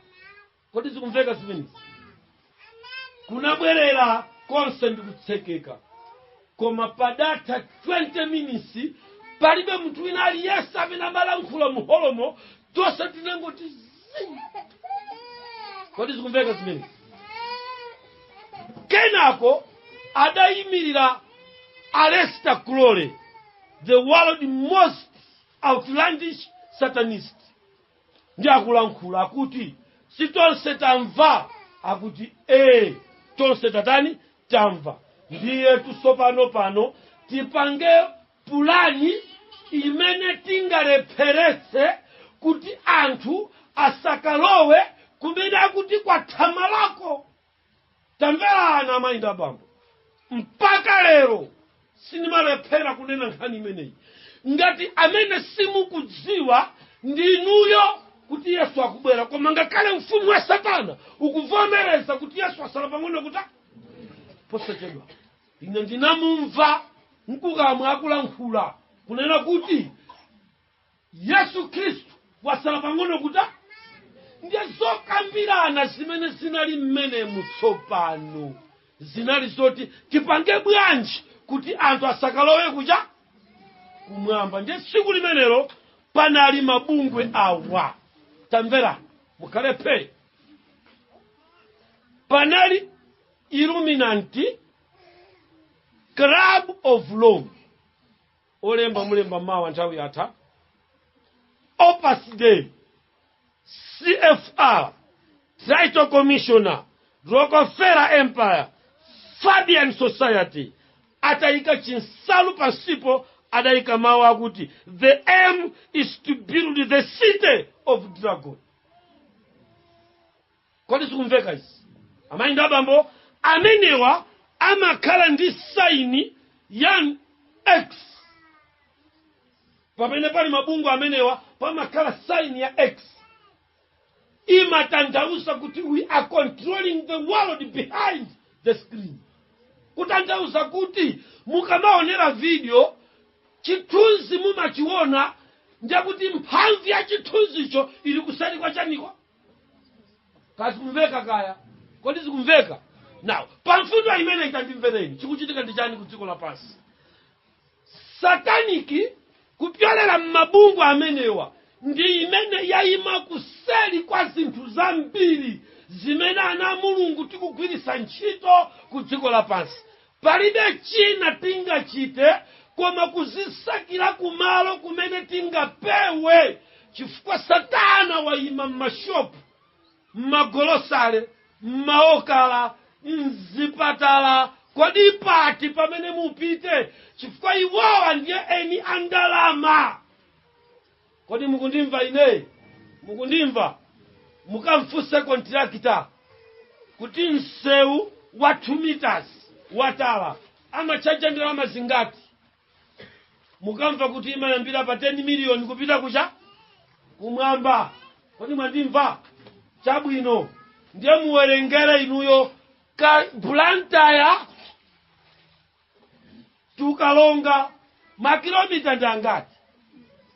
kodi zikumveka zimenezi kunabwerera konse ndi kutsekeka koma padatha 20 minutes palibe munthu wina aliyense amene amalankhula muholomo tonse tinangoti zii. kodi zikumveka zimenezi kenako adayimirira Aleister Crowley the world most outlandish satanist ndi akulankhula akuti si tonse tamva akuti ee tonse tatani tamva ndiye tsopano pano tipange pulani imene tingalepheretse kuti anthu asakalowe kumene akuti kwathamalako Tamverani, amayi ndi abambo, mpaka lero sindimalephera kunena nkhani imeneyi. Ngati amene simukudziwa ndi inuyo kuti Yesu akubwera, koma ngakhale ufumu wa Satana ukuvomereza kuti Yesu asala pang'ono kuti posachedwa. Ine ndinamumva mkukamwa akulankhula kunena kuti yesu khristu wasala pang'ono kuta ndiye zokambirana zimene zinali mmenemu tsopano zinali zoti tipange bwanji kuti anthu asakalowe kuja kumwamba ndiye tsiku limenelo panali mabungwe awa tamvera mukhale phee panali illuminati club of rome olemba mulemba mawa nthawi yatha opus dei cfr trilateral commission rockefeller empire fabian society atayika chinsalu pansipo adayika mawu akuti the aim is to build the city of dragon kodi zikumveka izi amayi ndi abambo amenewa amakhala ndi saini ya x pamene pali mabungwe amenewa pamakhala saini ya x imatanthauza kuti we are controlling the world behind the screen kutanthauza kuti mukamaonera video chithunzi mumachiona ndiye kuti mphamvu ya chithunzicho ili kuseri kwa chaniko kazikumveka kaya kodi zikumveka now pamfundo imene itandimvereni chikuchitika ndi chani ku dziko lapansi sataniki kupyolera m'mabungwe amenewa ndi imene yayima kuseri kwa zinthu zambiri zimene ana a mulungu tikugwiritsa ntchito ku dziko lapansi Palibe china tingachite koma kuzisakila kumalo kumene tingapewe chifukwa satana wayima mmashopu, mmagolosale, mmaokala, mzipatala kodi pati pamene mupite chifukwa iwowa ndiye eni a ndalama. kodi mukundimva ine mukundimva mukamfunse kontirakita kuti msewu wa 2 meters wa tala amachaja ndalama zingati mukamva kuti imayambira pa 10 miliyoni kupita kuja kumwamba kodi mwandimva chabwino ndiye muwerengere inuyo ka Blantyre to Karonga makilomita ndi angati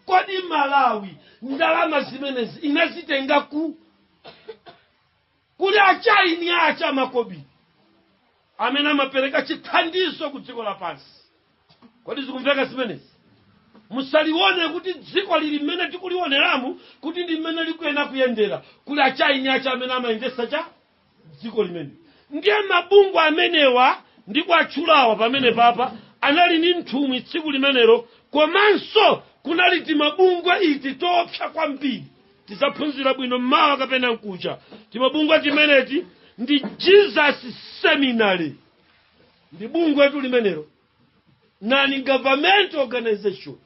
kodi malawi ndalama zimenezi inazitenga ku kuli achaini ache amakobiri amene amapereka chithandizo ku dziko lapansi kodi zikumveka zimenezi musalione kuti dziko lili mmene tikulioneramu kuti ndi mmene likuyenda kuyendera kuli achaini ache amene amayendesa cha dziko limene ndiye mabungwe amenewa ndikuwatchulawa pamene papa anali ndi nthumwi tsiku limenelo komanso kunali timabungwe iti toopsa kwambiri tizaphunzira bwino mmawa kapena mkuja timabungwe timeneti ndi jesus seminary ndi bungwetu limenelo non government organization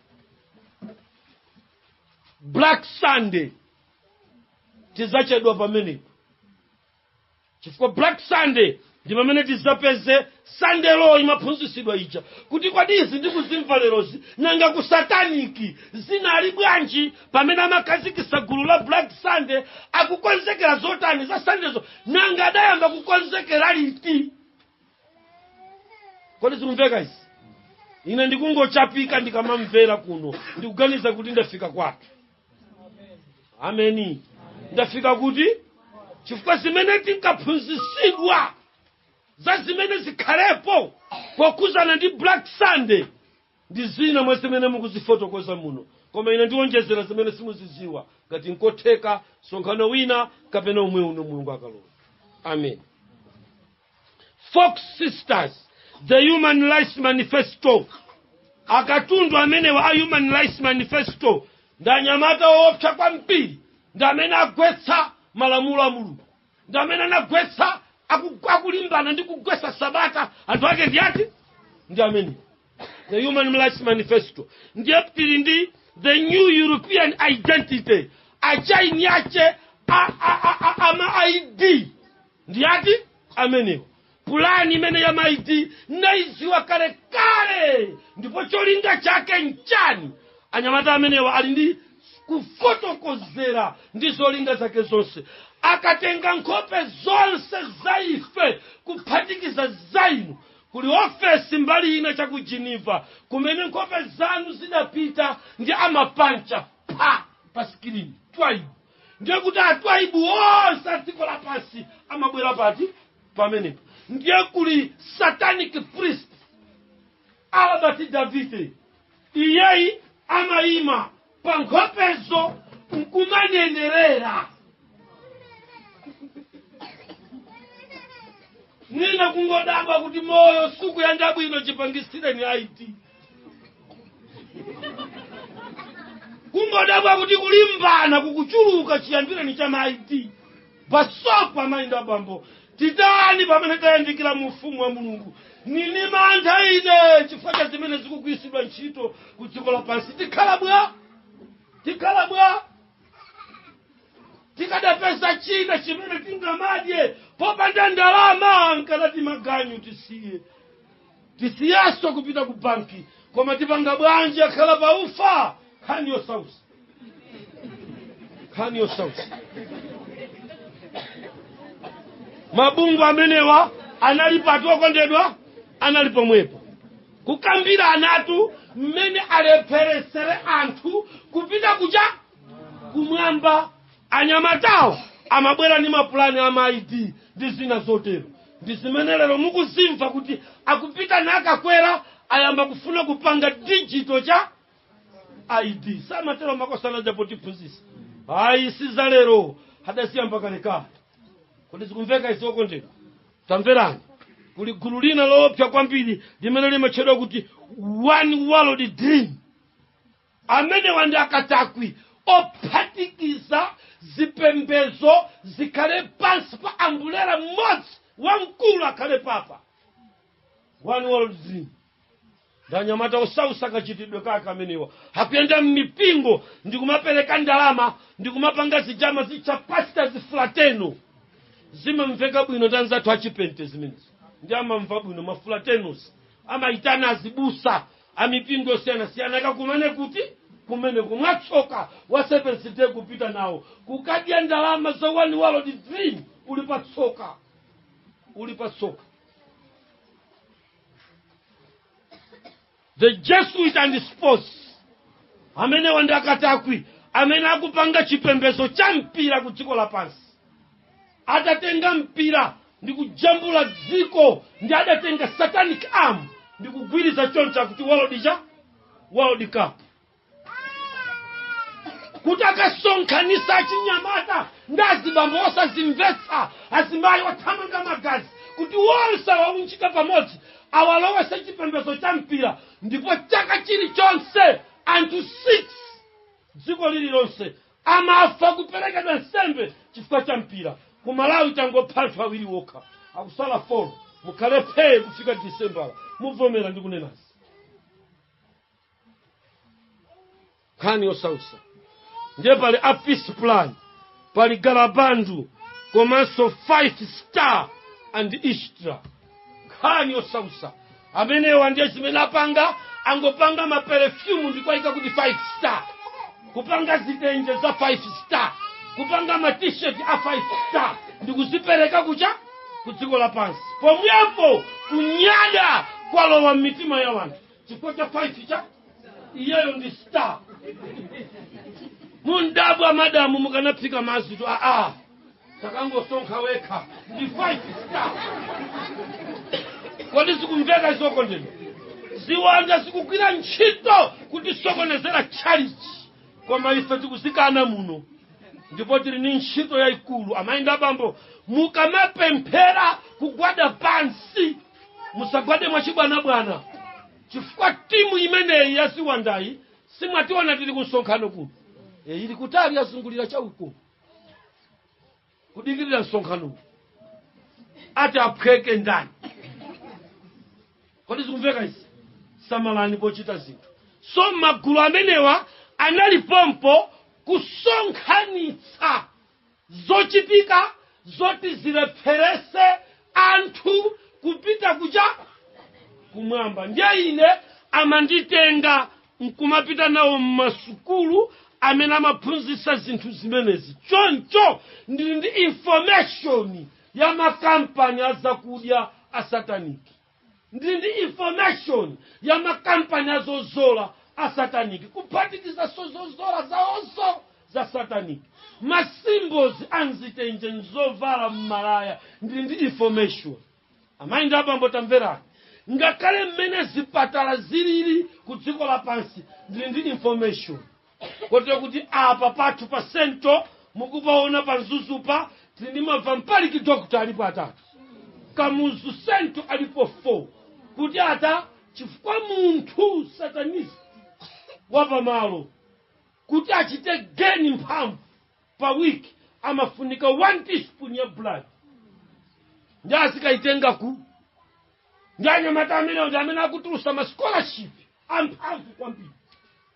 black sunday tizachedwa pamenepo chifukwa black sunday ndi pamene tizapeze sunday law imaphunzisidwa ija kuti kodi izi ndikuzimva lerozi nanga ku sataniki zinali bwanji pamene amakhazikisa gulu la black sunday akukonzekera zotani za sundayzo nanga adayamba kukonzekera liti kodi zikumveka izi ine ndikungochapika ndikamamvera kuno ndikuganiza kuti ndafika kwathu ameni ndafika kuti chifukwa zimene tinkaphunzisidwa za zimene zikhalepo pokhuzana ndi black sunday ndi zina mwa zimene mukuzifotokoza muno koma ine ndiwonjezera zimene simuziziwa ngati nkotheka sonkhano wina kapena umwe uno mulungu akalola amen Fox Sisters, The Human Rights Manifesto. Akatundu amenewa a Human Rights Manifesto ndi anyamata oopsa kwambiri ndi amene agwetsa malamulo a Mulungu ndi amene anagwetsa aku- akulimbana ndi kugwetsa sabata anthu ake ndi ati ndi amene the human rights manifesto ndiye tili ndi the new european identity achaini ache a, a, a, a, ama id Ndi ati amenewa? Pulani imene ya ma ID naidziwa kale kale ndipo cholinga chake nchani? Anyamata amenewa ali ndi kufotokozera ndi zolinga zake zonse. Akatenga nkhope zonse za ife kuphatikiza za inu. Kuli ofesi mbali ina cha ku Geneva kumene nkhope zanu zidapita ndi amapancha pa sikilini. Twaibu. ndiye kuti atwaibu onse a dziko lapansi amabwera pati pamenepo ndiye kuli satanic priest albert david iyeyi amayima pa nkhopezo nkumanenerera mwina kungodabwa kuti moyo sukuyenda bwino chipangisireni ID kungodabwa kuti kulimbana kukuchuluka chiyambireni cha ma ID basopa mainda abambo titani pamene tayandikira mu ufumu wa mulungu ndili ndi mantha ine chifukwa cha zimene zikugwiritsidwa ntchito ku dziko lapansi tikhala bwa tikhala bwa tikadapeza china chimene tingamadye popanda ndalama nkadati maganyu tisiye tisiyaso kupita ku banki koma tipanga bwanji akala pa ufa nkhani yosautsa nkhani yosautsa mabungwe amenewa analipo atu okondedwa anali pomwepo kukambirana atu mmene alepheretsere anthu kupita kuja kumwamba Anyamatawa amabwera ndi mapulani a ma ID ndi zina zotero. Ndi zimene lero mukuzimva kuti akupita nakakwera ayamba kufuna kupanga digital cha ID. Samatero makosana aja potiphunzitsa. Ayi si za lero adasiyamba kalekale. Kodi zikumveka izi okondedwa? Tamverani. Kuli gulu lina loopsa kwambiri limene limatchedwa kuti one world dream. Amenewa ndi akatakwi ophatikiza zipembezo zikhale pansi pa ambulera mmodzi wamkulu akhale papa one world dream ndanyamata osausa kachitidwe kake amenewa akuyenda mmipingo ndikumapereka ndalama ndikumapanga zijani zi ma pastors fraternal zimamveka bwino ndi anzathu achipente zimenezi ndiye amamva bwino ma fraternals amayitana azibusa a mipingo yosiyanasiyana akakumane kuti? kumeneko. Mwatsoka, wa Seventh Day kupita nawo kukadya ndalama za One World Dream. Uli pa tsoka, uli pa tsoka. The Jesuit and the sports amenewa ndi akatakwi amene akupanga chipembedzo cha mpira ku dziko lapansi adatenga mpira ndi kujambula dziko ndi adatenga satanic arm ndi kugwiriza choncho akuti world cup world cup kuti akasonkhanisa achinyamata ndi azibambo osazimvetsa azimayi othamanga magazi kuti wonse waunjika pamodzi awalowese chipembedzo cha mpira ndipo chaka chilichonse anthu 6 dziko lililonse amafa kuperekedwa nsembe chifukwa cha mpira ku malawi tangopha anthu awiri wokha akusala folo mukhale phee kufika disembala muvomera ndikunenazi nkhani yosausa ndiye pali a peace plan pali galabandu komanso five star and istra nkhani yosausa amenewa ndiye zimene apanga angopanga maperefyumu ndikuwaika kuti 5 star kupanga zitenje za 5 star kupanga matisheti a 5 star ndikuzipereka kuja ku dziko lapansi pomwepo kunyada kwalowa m'mitima ya wanthu chifukwa cha 5 star iyeyo ndi star mundabwa madamu mukanaphika mazitu aa takangosonkha wekha ndi 5 star kodi zikumveka izoko ndino ziwanda zikugwira ntchito kutisokonezera tchalichi koma ife tikuzikana muno ndipo tili ni ntchito yayikulu amayi ndi abambo mukamapemphera kugwada pansi musagwade mwachibwanabwana chifukwa timu imeneyi ya ziwandayi simwationa tili ku msonkhano kuno e, ili kutali yazungulira cha uko kudikirira msonkhano ati aphweke ndani kodi zikumveka izi samalani pochita zinthu so magulu amenewa anali pompo kusonkhanitsa zochitika zoti zilepherese anthu kupita kuja kumwamba ndiye ine amanditenga nkumapita nawo mmasukulu amene amaphunzitsa zinthu zimenezi choncho ndili ndi information ya makampani azakudya asataniki ndili ndi information ya makampani azozola asataniki kuphatikizaso zozola zaozo za sataniki masimbozi a mzitenje mzovala mmalaya ndili ndi information amayi ndi abambo tamverani ngakhale mmene zipatala zilili ku dziko lapansi ndili ndi information kotero kuti apa pathu pa sento mukupaona pa mzuzupa tili ndi mavampaliki dokta alipo atatu kamuzu sento alipo 4 kuti ata chifukwa munthu satanist wapamalo kuti achite geni mphamvu pa week amafunika 1 teaspoon ya blood ndi azikayitenga ku ndi anyamata amenewo ndi amene akutulusa ma scholarship amphamvu kwambiri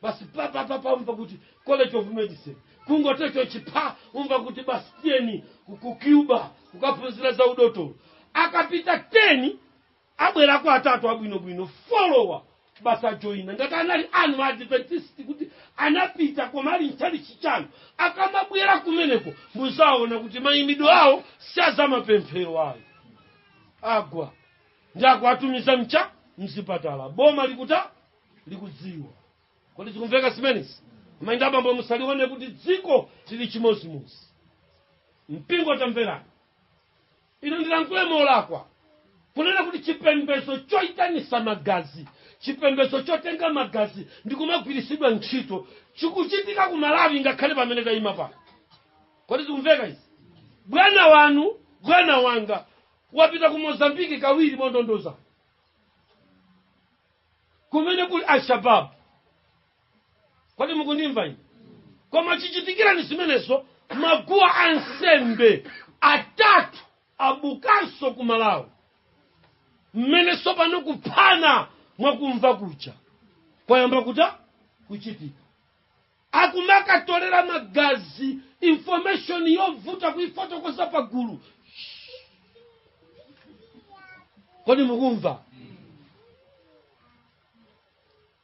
basi papapa umva kuti college of medicine kungotecho chipha umva kuti basi tiyeni ku- ku cuba kukaphunzira za udotolo akapita 10 abwerakwa atatu abwinobwino folowa basi ajoyina ngati anali anu adventist kuti anapita koma ali mchalichi chanu akamabwera kumeneko muzaona kuti mayimidwe awo si a zamapemphero ayo agwa ndi akuwatumiza mucha mzipatala boma likuta likudziwa kodi zikumveka zimenezi amayi ndi abambo musalione kuti dziko lili chimozimozi mpingo tamverani ine ndilankhule molakwa kunena kuti chipembedzo choitanisa magazi chipembedzo chotenga magazi ndikumagwiritsidwa ntchito chikuchitika ku malawi ngakhale pamene tayima pano kodi zikumveka izi bwana wanu bwana wanga wapita ku mozambiki kawiri mondondoza kumene kuli alshababu kodi mukundimva ine koma chichitikirani zimenezo maguwa ansembe atatu abukanso ku malawi mmene tsopano kuphana mwakumva kucha kwayamba kuta kuchitika akumakatolera magazi information yovuta kuifotokoza pagulu kodi mukumva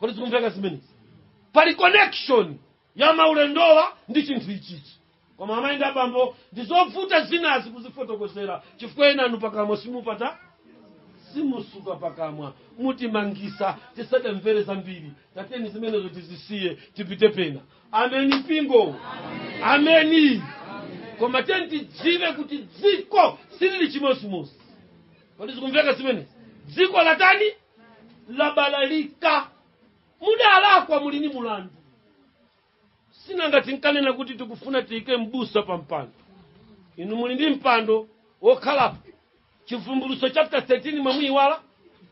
kodi zikumveka zimenezi pali connection ya maulendowa ndi chinthu ichichi koma amayi ndi abambo ndi zovuta zinazi kuzifotokozera chifukwa enanu pakamwa simupata simusuka pakamwa mutimangisa tisatemvere zambiri tateni zimenezo tizisiye tipite pena ameni mpingo ameni koma tiyeni tidziwe kuti dziko silili chimodzimodzi kodi zikumveka zimenezi dziko latani labalalika mudalakwa muli ni mulandu si nanga tinkanena kuti tikufuna tiyike mbusa pa mpando inu muli ndi mpando wokhalapo chivumbulutso chapter 13 mwamuyiwala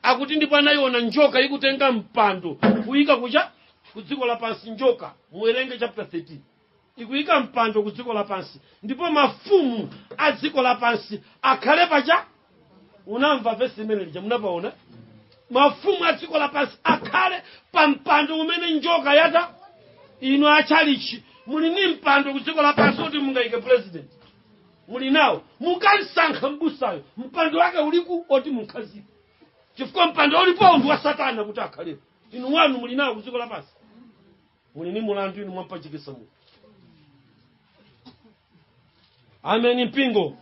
akuti ndipo anayiona njoka ikutenga mpando kuyika kucha ku dziko lapansi njoka muwerenge chapter 13 ikuyika mpando ku dziko lapansi ndipo mafumu a dziko lapansi akhale pacha unamva vesi imene lija munapaona mafumu a dziko lapansi akhale pa mpando umene njoka yata inu atchalichi muli ni mpando ku dziko lapansi oti mungayike president muli nawo mukansankha mbusayo mpando wake uliku oti munkhazike chifukwa mpando ulipo ndi wa satana kuti akhalepo inu wanu muli nawo ku dziko lapansi uli ni mulandu inu mwampachikisamo inu ameni mpingo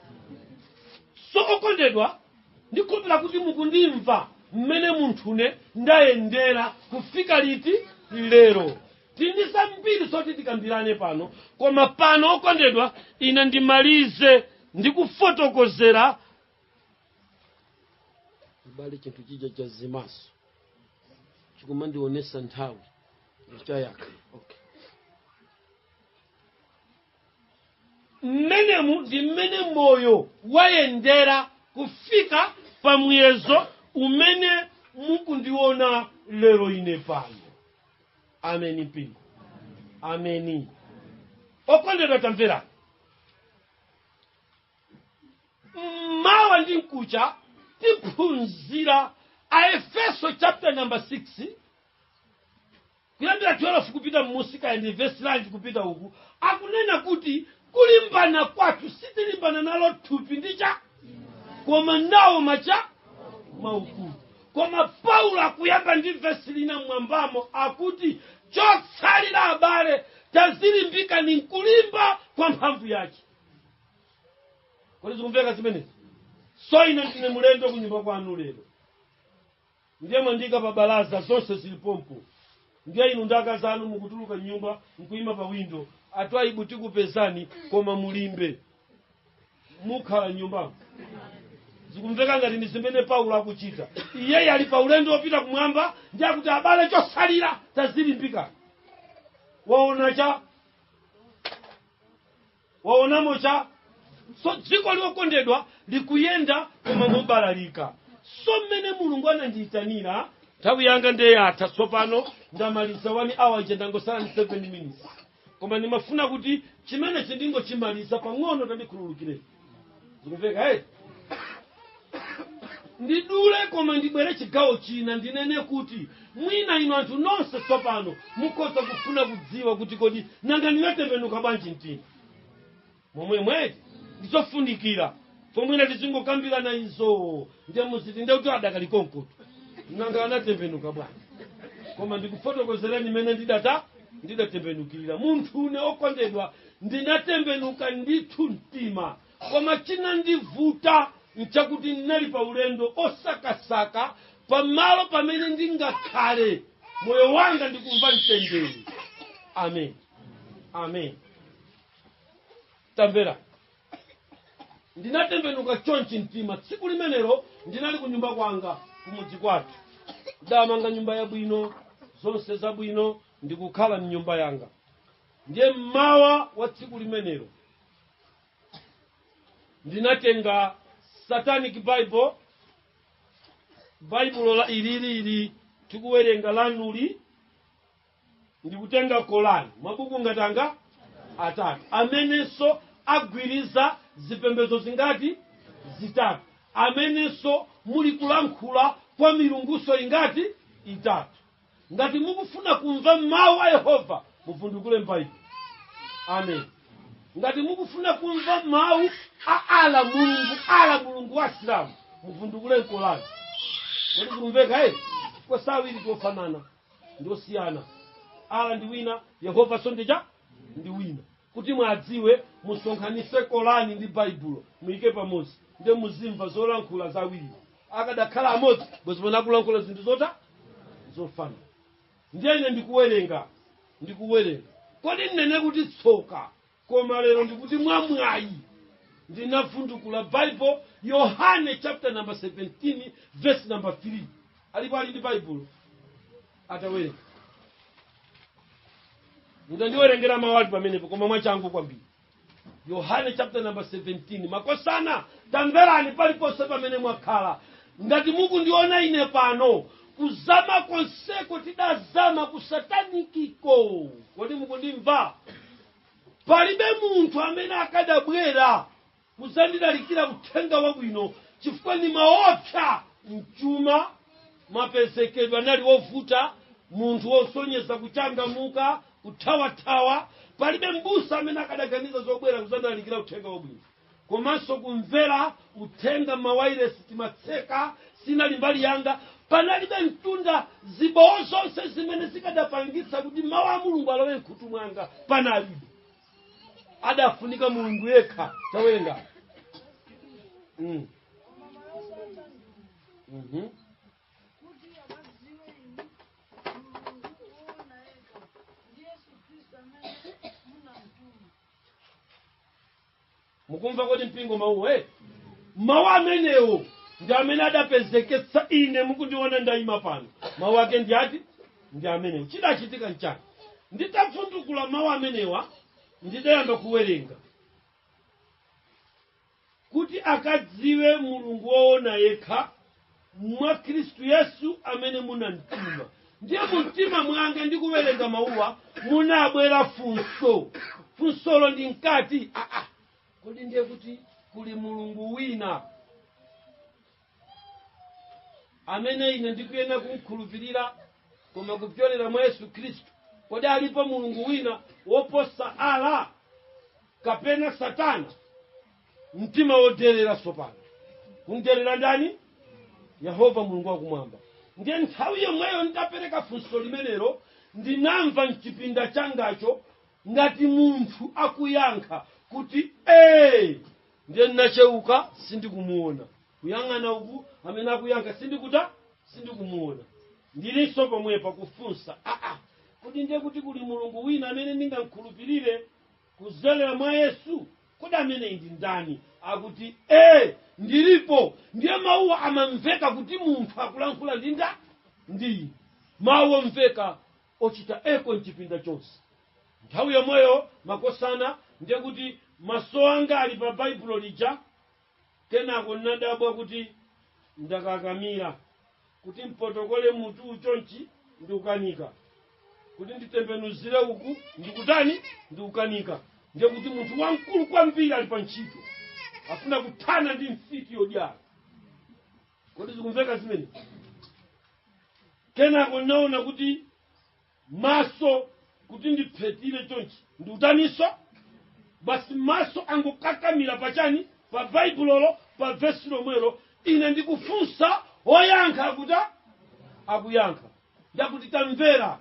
so okondedwa ndikhulupira kuti mukundimva mmene munthune ndayendera kufika liti lero tindi zambiri zoti tikambirane pano koma pano okondedwa ine ndimalize ndikufotokozera abale chinthu chija chazimaso chikumandionesa nthawi chayaka okay. mmenemu ndi mmene moyo wayendera kufika pa muyezo umene mukundiona lero ine pano ameni mpingo ameni okondedwa tamverani mmawa ndi mkucha tiphunzira aefeso chapter number 6 kuyambira 12 kupita mmusi kaya ndi vesi lanji kupita uku akunena kuti kulimbana kwathu sitilimbana nalo thupi ndi chani koma nawo macha maukulu koma paulo akuyamba ndi vesi lina mwambamo akuti chotsalira abale tadzilimbikani m'kulimba kwa mphamvu yake kodi zikumveka zimenezi so ine ndine mulendo kunyumba kwanu lero ndiye mwandiika pa balaza zonse zili pompo ndiye inu nda akazanu mukutuluka m'nyumba mkuyima pa windo atwayibu tikupezani koma mulimbe mukhale m'nyumbamo zikumveka ngati ndi zimene paulo akuchita iyeyi ali pa ulendo wopita kumwamba ndiye akuti abale chotsalira tadzilimbika waona cha waonamo cha so dziko ili okondedwa likuyenda koma mobalalika so mmene mulungu anandiyitanira nthawi yanga ndeyatha tsopano ndamaliza 1 hour ija ndangotsala ndi 7 minutes koma ndimafuna kuti chimenechi ndingochimaliza pang'ono tandikhululukireni zikumveka eti ndidule koma ndibwere chigawo china ndinene kuti mwina inu anthu nonse tsopano mukhoza kufuna kudziwa kuti kodi nanga ndinatembenuka bwanji mtima momwemo eti ndizofunikira paja mwina tizingokambirana izo nde muziti nde kuti adakali konkoto nanga anatembenuka bwanji koma ndikufotokozereni mmene ndidata ndidatembenukira munthune okondedwa Ndinatembenuka ndithu mtima, koma chinandivuta n'chakuti ndinali pa ulendo osakasaka pamalo pamene ndingakhale moyo wanga ndikumva mtendere. Amen. Amen. Tamvera. Ndinatembenuka chonchi mtima. Tsiku limenelo ndinali ku nyumba kwanga kumudzi kwathu. Ndidamanga nyumba yabwino, zonse zabwino, ndikukhala m'nyumba yanga. ndiye mmawa wa tsiku limenelo ndinatenga satanic bible baibulo ilili tikuwerenga lanuli ndikutenga kolani mabuku angati atatu amenenso agwiriza zipembedzo zingati zitatu amenenso muli kulankhula kwa milunguso ingati itatu ngati mukufuna kumva mawu a yehova muvundukule m'baibulo amen ngati mukufuna kumva mawu a ala mulungu ala mulungu wa asilamu muvundukule mkolani kodi kumveka e kapena awiri siofanana ndiosiyana ala ndi wina yehova so nde Ja ndi wina Kuti mwadziwe, musonkhanitse Korani ndi Baibulo, muike pamodzi, nde muzimva zolankhula za awiriwo. Akadakhala amodzi, bwezi pano akulankhula zinthu zota zofanana. Ndiye ine ndikuwerenga, ndikuwerenga. Kodi ndinene kuti tsoka, koma lero ndikuti mwamwayi ndinavundukula Baibulo, Yohane chapter number 17 verse number 3. Alipo ali ndi Baibulo? atawerenga tandiwerengera mawu ali pamenepo koma mwachangu kwambiri yohane chapter number 17 makosana tamverani paliponse pamene mwakhala ngati mukundiona ine pano kuzama konseko tidazama kusatanikiko kodi mukundimva palibe munthu amene akadabwera kuzandilalikira Uthenga Wabwino chifukwa nimaopsa m'chuma, mapezekedwe anali ovuta, munthu wosonyeza kuchangamuka, kuthawathawa, palibe mbusa amene akadaganiza zobwera kuzandilalikira Uthenga Wabwino, komanso kumvera uthenga mawailesi timatseka, sinali mbali yanga, panalibe mtunda, zibowo zonse zimene zikadapangitsa kuti mau a Mulungu alowe mkhutu mwanga panalibe. adafunika mulungu yekha tawerenga mukumva kodi mpingo mawuwo eh? mawu amenewo ndi amene adapezeketsa ine mukundiona ndayima pano mawu ake ndi ati ndi amenewo chidachitika nchani nditavundukula mawu amenewa ndidayamba kuwerenga kuti akadziwe mulungu woona yekha mwa khristu yesu amene munamtuma ndiye mu mtima mwanga ndikuwerenga mawuwa munabwera funso funsolo ndinkati ah, ah. kodi ndiye kuti kuli mulungu wina amene ine ndikuyenera kumkhulupirira koma kupyolera mwa yesu khristu kodi alipo mulungu wina woposa ala kapena satana mtima woderera tsopano kumderera ndani yehova mulungu wakumwamba ndiye nthawi yomweyo ndidapereka funso limenelo ndinamva mchipinda changacho ngati munthu akuyankha kuti ee ndiye ndinacheuka sindikumuona kuyang'ana uku amene akuyankha sindikuta sindikumuona ndilinso pomwepa kufunsa aa kodi ndiye kuti kuli mulungu wina amene ndingamkhulupirire Kudzera mwa Yesu, kodi ameneyi ndi ndani akuti, Ee, ndilipo? Ndiye mawuwa amamveka kuti munthu akulankhula ndi ndani? Ndi ine. Mawu omveka ochita echo m'chipinda chonse. Nthawi yomweyo makosana, ndiye kuti maso anga ali pa Baibulo lija. Kenako n'nadabwa kuti ndakakamira kuti mpotokole mutuwu chonchi ndikukanika, kuti nditembenuzire uku ndikutani, ndikukanika. Ndiye kuti munthu wamkulu kwambiri ali pa ntchito, afuna kuthana ndi mfiti yodyala. Kodi zikumveka zimene? Kenako n'naona kuti maso kuti ndiphethire chonchi ndikutaninso basi maso angokakamira pachani pa baibulolo pa vesi lomwelo ine ndikufunsa oyankha akuta akuyankha ndakuti tamvera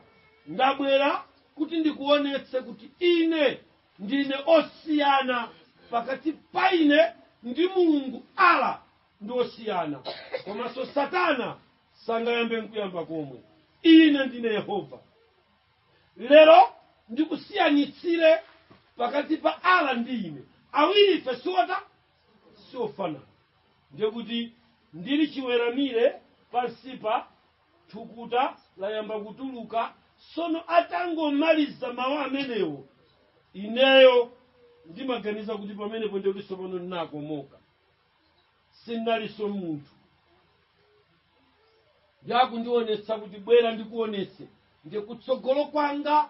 ndabwera kuti ndikuonetse kuti ine ndine osiyana pakati pa ine ndi mulungu ala ndi osiyana komanso satana sangayambe nkuyamba komwe ine ndine yehova lero ndikusiyanitsire pakati pa ala ndi ine awiri ife siwota siofanana ndiye kuti ndili chiweramire pansipa thukuta layamba kutuluka sono atangomaliza mawu amenewo ineyo ndimaganiza kuti pamenepo ndiye kuti tsopano ndinakomoka sindinalinso munthu yakundiwonetsa kuti bwera ndikuwonetse ndiye kutsogolo kwanga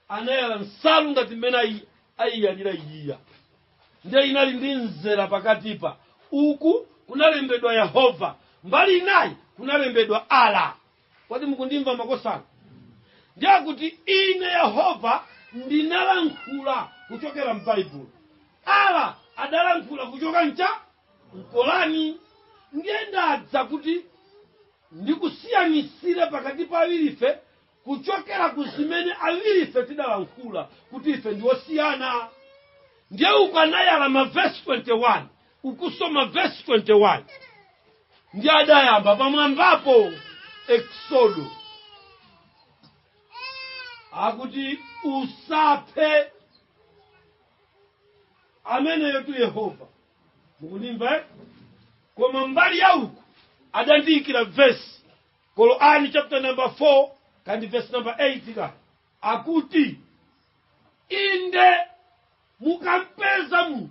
anayala nsalu ngati mmene ayi- ayiyalira iyiya ndiye inali ndi mzera pakatipa uku kunalembedwa yehova mbali inayi kunalembedwa ala kodi mukundimva makosana ndiye akuti ine yehova ndinalankhula kuchokera m'baibulo ala adalankhula kuchoka mcha mkorani ndiye ndadza kuti ndikusiyanisire pakati pa awirife kuchokera ku zimene awirife tidalankhula kuti ife ndi osiyana ndiye ukwanayala mavesi 21 ukusoma vesi 21 ndiye adayamba pamwambapo eksodo akuti usaphe ameneyotu yehova mukundimva? koma mbali ya uku adandiyikira vesi korani chapter number 4 kandi vesi number 8 ka akuti inde mukampeza munthu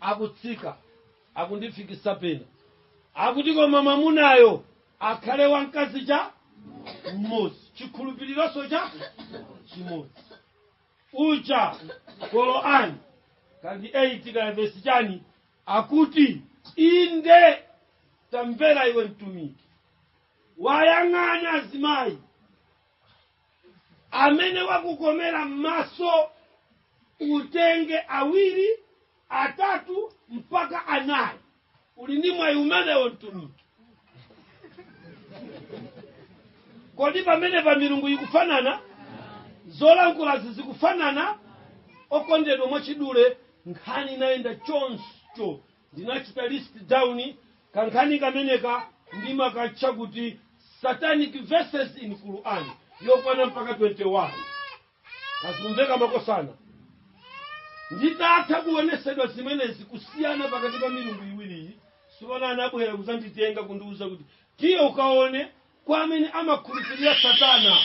akutsika akundifikisa pena akuti koma mwamunayo akhale wamkazi cha mmodzi chikhulupirironso cha chimodzi kucha korani kandi 8 ka vesi chani akuti inde tamvera iwe mtumiki wayang'ana azimayi amene wakukomera m'maso utenge awiri atatu mpaka anayi uli ndi mwayi umenewo mtumiki kodi pamenepa milungu ikufanana zolankhulazi zikufanana okondedwa mwachidule nkhani inayenda choncho Ndinachita list down kankhani kameneka ndimakatcha kuti satanic verses in Quran yokwana mpaka 21 zikumveka makosana nditatha kuonesedwa zimenezi kusiyana pakati pa milungu iwiriyi sipona anabwera kuzanditenga kundiuza kuti tiye ukaone kwa amene amakhulupirira satana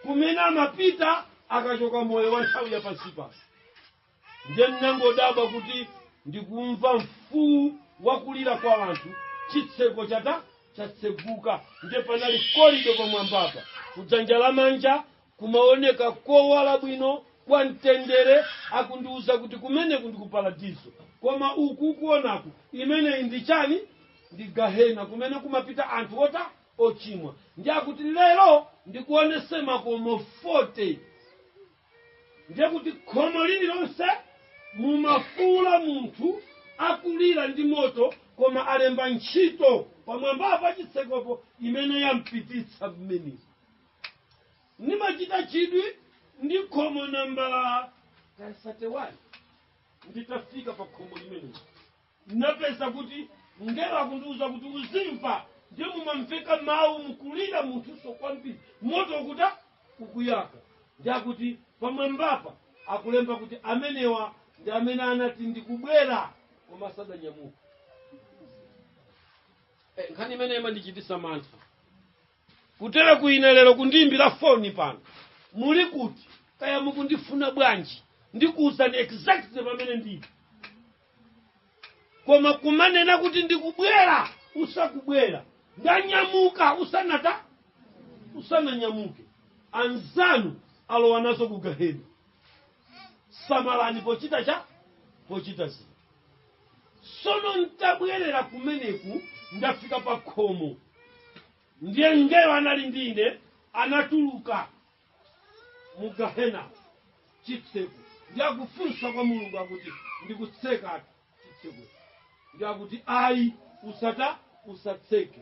kumene amapita akachoka moyo wa nthawi ya pansi pano ndiye ndinangodabwa kuti ndikumva mfuu wakulira kwa anthu chitseko chata chatseguka ndiye panali korido pamwambapa kudzanja lamanja kumaoneka kowala bwino kwa mtendere akundiuza kuti kumeneku ndi ku paradiso koma uku ukuonaku imeneyi ndi chani ndi gahena kumene kumapita anthu ota ochimwa ndiye akuti lero ndikuonese makomo 40 ndiye kuti khomo lililonse mumafuula munthu akulira ndi moto koma alemba ntchito pamwamba pa chitsekopo imene yampititsa mmene ndimachita chidwi ndi khomo nambala 31 nditafika pa khomo limeneli Ndinapeza kuti mngelo akundiuza kuti uzimva ndiye mumamveka mawu mukulira munthunso kwambiri moto ukuta ukuyaka ndi akuti pamwambapa akulemba kuti amenewa ndi amene anati ndikubwera koma sadanyamuka Eh, nkhani imene imandichitisa mantha Kutereku ine lero kundiimbira foni pano muli kuti kaya mukundifuna bwanji ndikuwuzani exactly pamene ndili koma kumanena kuti ndikubwera usakubwera ndanyamuka usanata usananyamuke anzanu alowa nazo ku gahena samalani pochita cha pochita zinthu Tsono n'tabwerera kumeneku ndafika pa khomo, ndiye mngelo anali ndi ine anatuluka mu gahena chitseko, ndiye akufunsa kwa Mulungu akuti ndikutseka chitseko, ndiye akuti ayi, usata usatseke,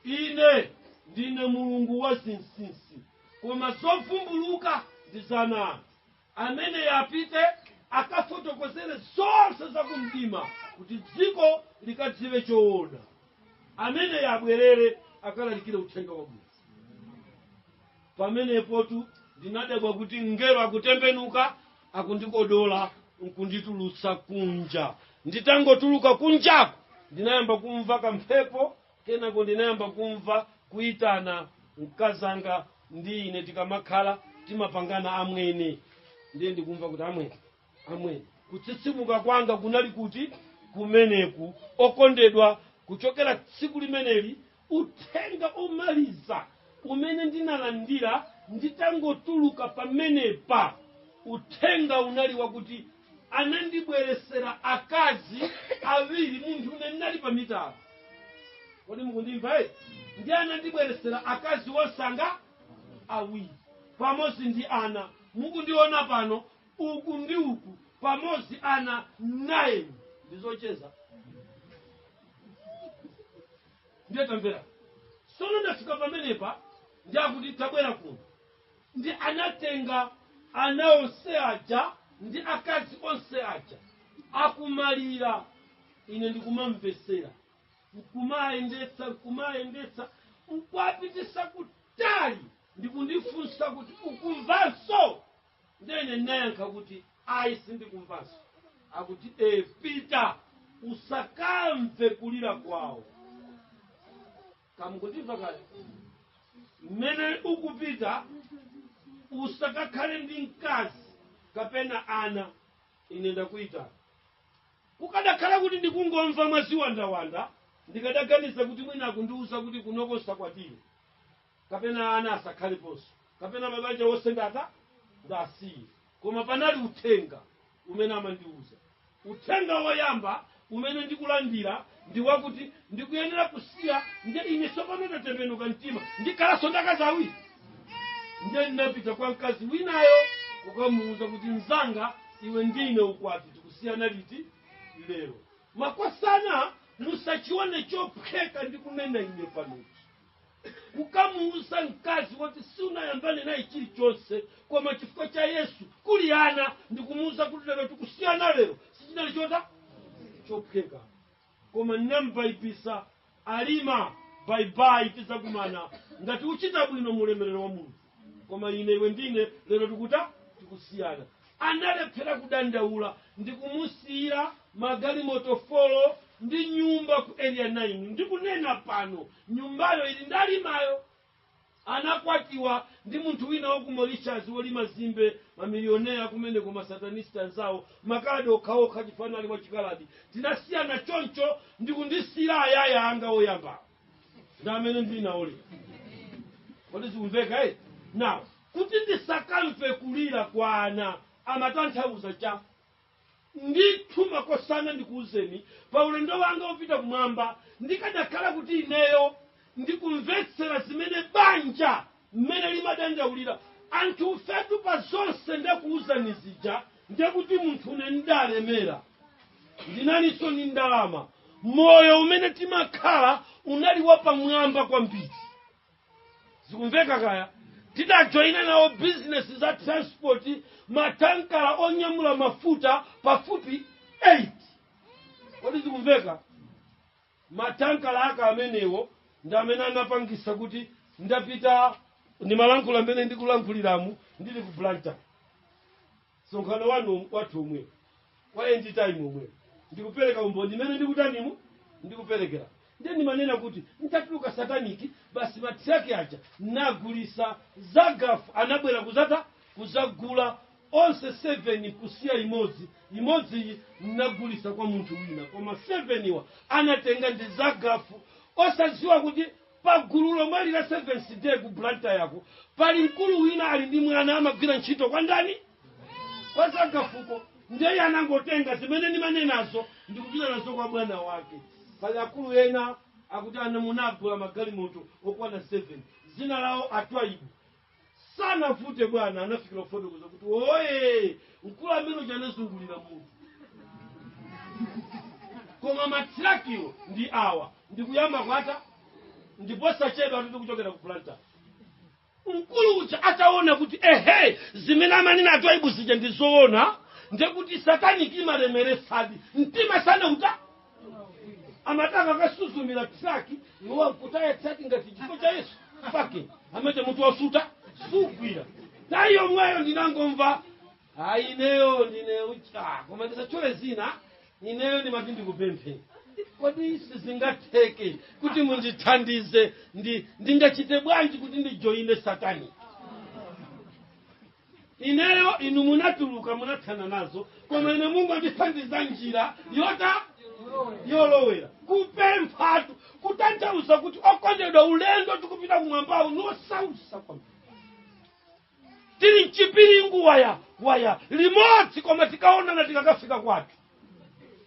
ine ndine Mulungu wa zinsinsi, koma zovumbuluka ndi za ana anthu. Ameneyo apite akafotokozere zonse za kumdima kuti dziko likadziwe choona. Ameneyo abwerere akalalikire uthenga wabwino. Pamenepotu ndinadabwa kuti mngelo akutembenuka akundikodola nkunditulutsa kunja. Nditangotuluka kunjako ndinayamba kumva kamphepo Kenako ndinayamba kumva kuitana. Mkazanga ndi ine tikamakhala timapangana amwene. Ndiye ndikumva kuti amwene, amwene. Kutsitsimuka kwanga kunali kuti? Kumeneku. Okondedwa, kuchokera tsiku limeneli uthenga omaliza umene ndinalandira nditangotuluka pamenepa, uthenga unali wakuti, anandibweresera akazi awiri munthune ndinali pa mitala kodi mukundimva eti ndiye anandibweresera akazi wonse anga awiri pamodzi ndi ana mukundiona pano uku ndi uku pamodzi ana 9 ndizocheza ndiye tamvera sono ndafika pamenepa ndiakuti tabwera kuno ndi anatenga ana onse aja ndi akazi onse aja akumalira ine ndikumamvetsera nkumayendetsa nkumayendetsa nkuwapititsa kutali ndikundifunsa kuti ukumvanso ndene ndinayankha kuti ayi sindikumvanso akuti e pita usakamve kulira kwawo kamukundimva kale mmene ukupita usakakhale ndi mkazi kapena ana ine ndakuyitana kukadakhala kuti ndikungomva mwaziwandaziwanda ndikadaganiza kuti mwina akundiwuza kuti kunoko usakwatire kapena ana asakhaleponso kapena mabanja onse ndata ndasiye koma panali uthenga umene amandiwuza Uthenga woyamba umene ndikulandira ndi wakuti ndikuyenera kusiya, ndiye ine tsopano ndatembenuka mtima, ndikhalanso ndi akazi awiri? Ndiye ndinapita kwa mkazi winayo kukamuuza kuti, Mnzanga, iwe ndi ine ukwati tikusiyana liti? Lero. Makosana musachione chophweka ndikunena ine panochi. kukamuuza mkazi woti sunayambane naye chilichonse koma chifukwa cha yesu kuli ana ndikumuuza kuti lero tikusiyana lero sichinali chota chophweka koma ndinambaibitsa alima baibai tizakumana ngati uchita bwino mu ulemerero wa mulungu koma ine iwe ndine lero tikuta tikusiyana analephera kudandaula ndi kumusiyira magalimoto folo ndi nyumba ku area 9 ndikunena pano nyumbayo ili ndalimayo anakwatiwa ndi munthu wina wa ku mauritius wolima zimbe mamilionea kumeneko masatanisti anzawo makadi okhaokha chifukwa anali wachikaladi tinasiyana choncho ndikundisiyira ayaya anga oyamba ndi amene ndili nawo lero kodi zikumveka eh? now kuti ndisakamve kulira kwa ana amatanthauza chani ndithu makosana ndikuwuzeni pa ulendo wanga wopita kumwamba ndikadakhala kuti ineyo ndikumvetsera zimene banja mmene limadandaulira anthufetu pa zonse ndakuuzani zija ndekuti munthune ndalemera ndinalinso ni ndalama moyo umene timakhala unali wapamwamba kwambiri zikumveka kaya tidajoyina nawo bizinesi za transport matankala onyamula mafuta pafupi 8 kodi zikumveka ma tanker aja amenewo ndi amene anapangisa kuti nditapita ndimalankhula mmene ndikulankhuliramu ndili ku blantyre msonkhano wanu wathu omwe wa end time omwe ndikupereka umboni mmene ndikutanimu ndikuperekera ndiye ndimanena kuti ntatuluka sataniki basi matiraki aja nagulisa zagafu anabwera kudzata kudzagula onse 7 kusiya imodzi imodziyi ndinagulisa kwa munthu wina koma 7 wa anatenga ndi zagafu osadziwa kuti pagulu lomwe lija 7th day ku blantyreko pali mkulu wina ali ndi mwana amagwira ntchito kwa ndani kwa zagafuko ndeye anangotenga zimene ndimanenazo ndikupita nazo kwa bwana wake pali akulu ena akuti munagula magalimoto okwana 7 dzina lawo atwaibu sanavute bwana anafikira kufotokoza kuti ee mkulu amene uja anazungulira mutu koma matrakiwo ndi awa ndikuyamba kwata ndi posachedwa atati kuchokera ku blantyre mkulu uja ataona kuti ehe zimene amanena atoibu zija ndizoona ndekuti sataniki imalemeretsadi mtima sanauta amataka akasuzumira traki iwo nkutaya traki ngati chifo cha yesu pake amete mutu wasuta sugwira tayi yomweyo ndinangomva ayi ineyo ndine uja koma ndisatchule dzina ineyo ndimati ndikupemphe kodi sizingatheke kuti mundithandize ndingachite bwanji kuti ndijoyine satani ineyo inu munatuluka munathana nazo koma ine mungondithandiza njira yoti yolowera kupemphatu kutanthauza kuti okondedwa ulendo tikupita kumwambawo ngosautsa kwambiri tili mchipiringu waya waya limodzi koma tikaonana tikakafika kwathu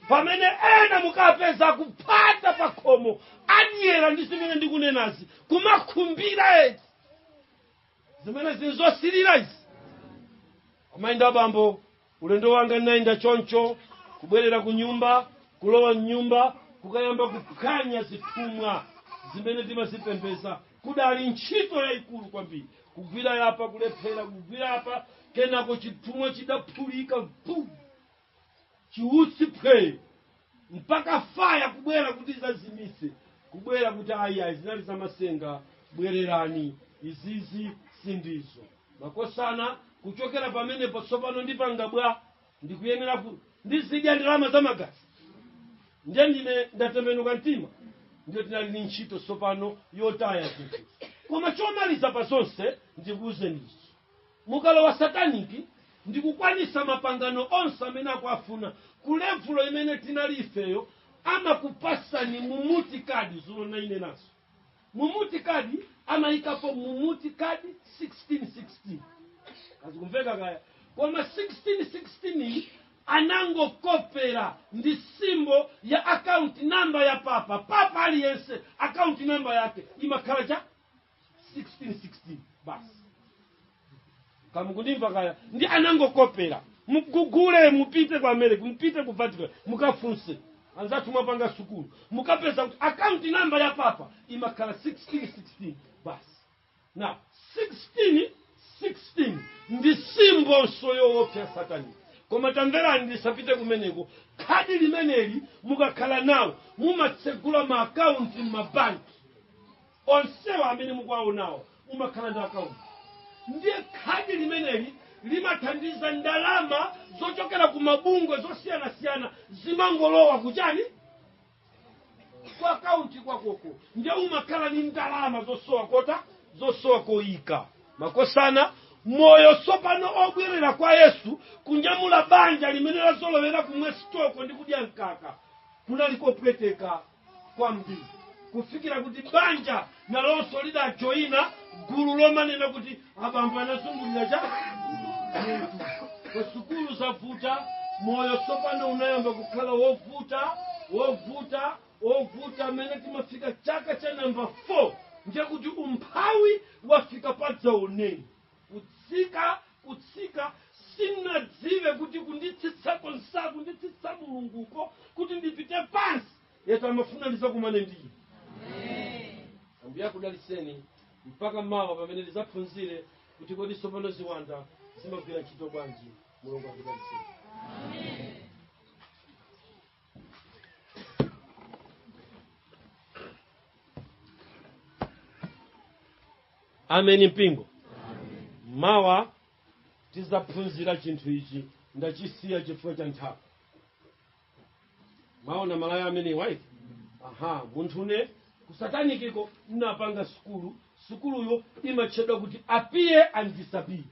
pamene ena mukapeza kuphata pa khomo adyera ndi zimene ndikunenazi kumakhumbira eti zimenezi nzosilira izi kumayendabe bambo ulendo wanga ndinayenda choncho kubwerera ku nyumba kulowa mnyumba kukayamba kuphwanya zithumwa zimene timazipembeza idali ntchito yayikulu kwambiri kugwira yapa kulephera kugwira apa kenako chithumwa chidaphulika vu chiutsi phwee mpaka faya kubwera kuti adzazimitse kubwera kuti ayi ayi zinali zamasenga bwererani izizi sindizo makosana kuchokera pamenepo tsopano ndipanga bwa ndikuyenera kuti ndizidya ndalama za magazi ndiye ndine ndatembenuka mtima ndiye tinali ni ntchito tsopano yotaya zinthu koma chomaliza pa zonse ndikuuzeni ichi mukalowa sataniki ndikukwanisa mapangano onse amene akuafuna ku levulo imene tinali ifeyo amakupasani mumuti khadi zulo ndinanenanso mumuti khadi amayikapo mumuti khadi 1616 kazikumveka kaya koma 1616 iyi anangokopera ndi simbo ya akaunti namba ya papa papa aliyense akaunti namba yake imakhala cha 1616 basi kamukundimva kaya ndi anangokopera mugugule mupite ku america mupite ku vatican mukafunse anzathu amene mwapanga sukulu mukapeza kuti akaunti namba ya papa imakhala 1616 basi na 1616 ndi simbonso yoopsa ya satani koma tamverani ndisapite kumeneko khadi limeneli mukakhala nawo mumatsegula maakaunti m'mabanki Onsewa amene mukuwaonawo umakhala ndi account ndiye khadi limeneli limathandiza ndalama zochokera ku mabungwe zosiyanasiyana zimangolowa kuchani ku account kwakoko ndiye umakhala ndi ndalama zosowa kota zosowa koyika makosana moyo tsopano obwerera kwa yesu kunyamula banja limene lazolowera kumwa stoko ndi kudya mkaka kunali kopweteka kwambiri kufikira kuti banja nalonso lidajoyina gulu lomanena kuti abambo anazungulira cha kusukulu zavuta moyo tsopano unayamba kukhala wovuta wovuta wovuta amene timafika chaka cha namba 4 ndiye kuti umphawi wafika padzaoneni kutsika kutsika sinadziwe kuti kunditsitsako amanditsitsa mulunguko kuti ndipite pansi yetu amafuna ndizakumane ndiye ambuye akudaliseni mpaka mawa pamene ndizaphunzire kuti kodi tsopano ziwanda zimagwira ntchito bwanji mulungu akudaliseni ameni mpingo mawa tizaphunzira chinthu ichi ndachisiya chifukwa cha nthawi maona malaya amenewa eti aha munthu ine kusatanikiko napanga sukulu sukuluyo imatchedwa kuti appear and disappear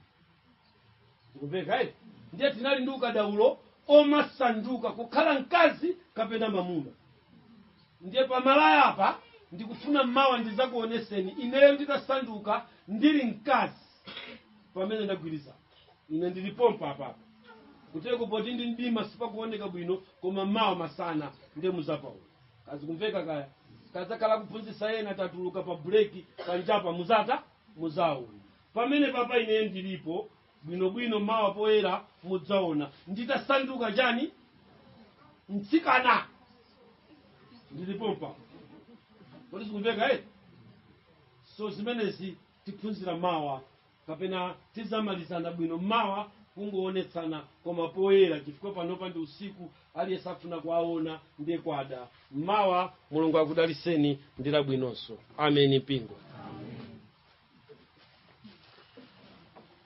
zikumveka eti ndiye tinali ndi ukadaulo omasanduka kukhala mkazi kapena mamuna ndiye pamalaya apa ndikufuna mawa ndizakuoneseni ineyo nditasanduka ndili mkazi pamene ndagwiriza ine ndili pompa apapa kuteko poti ndi mdima sipakuoneka bwino koma mawa masana ndiye muzapaona kazikumveka kaya kazakhala kuphunzitsa ena tatuluka pa buleki panjapa muzata muzaona Pamenepapa ine ndilipo, bwinobwino, mawa poyera mudzaona, nditasanduka chani? Mtsikana! Ndili pompa. Kodi zikumveka eti? So zimenezi tiphunzira mawa, kapena tizamalizana bwino mawa, kungoonetsana koma poyera, chifukwa panopa ndi usiku, aliyense afuna kuwaona ndiye kwada mawa mulungu akudalitseni ndi labwinonso ameni mpingo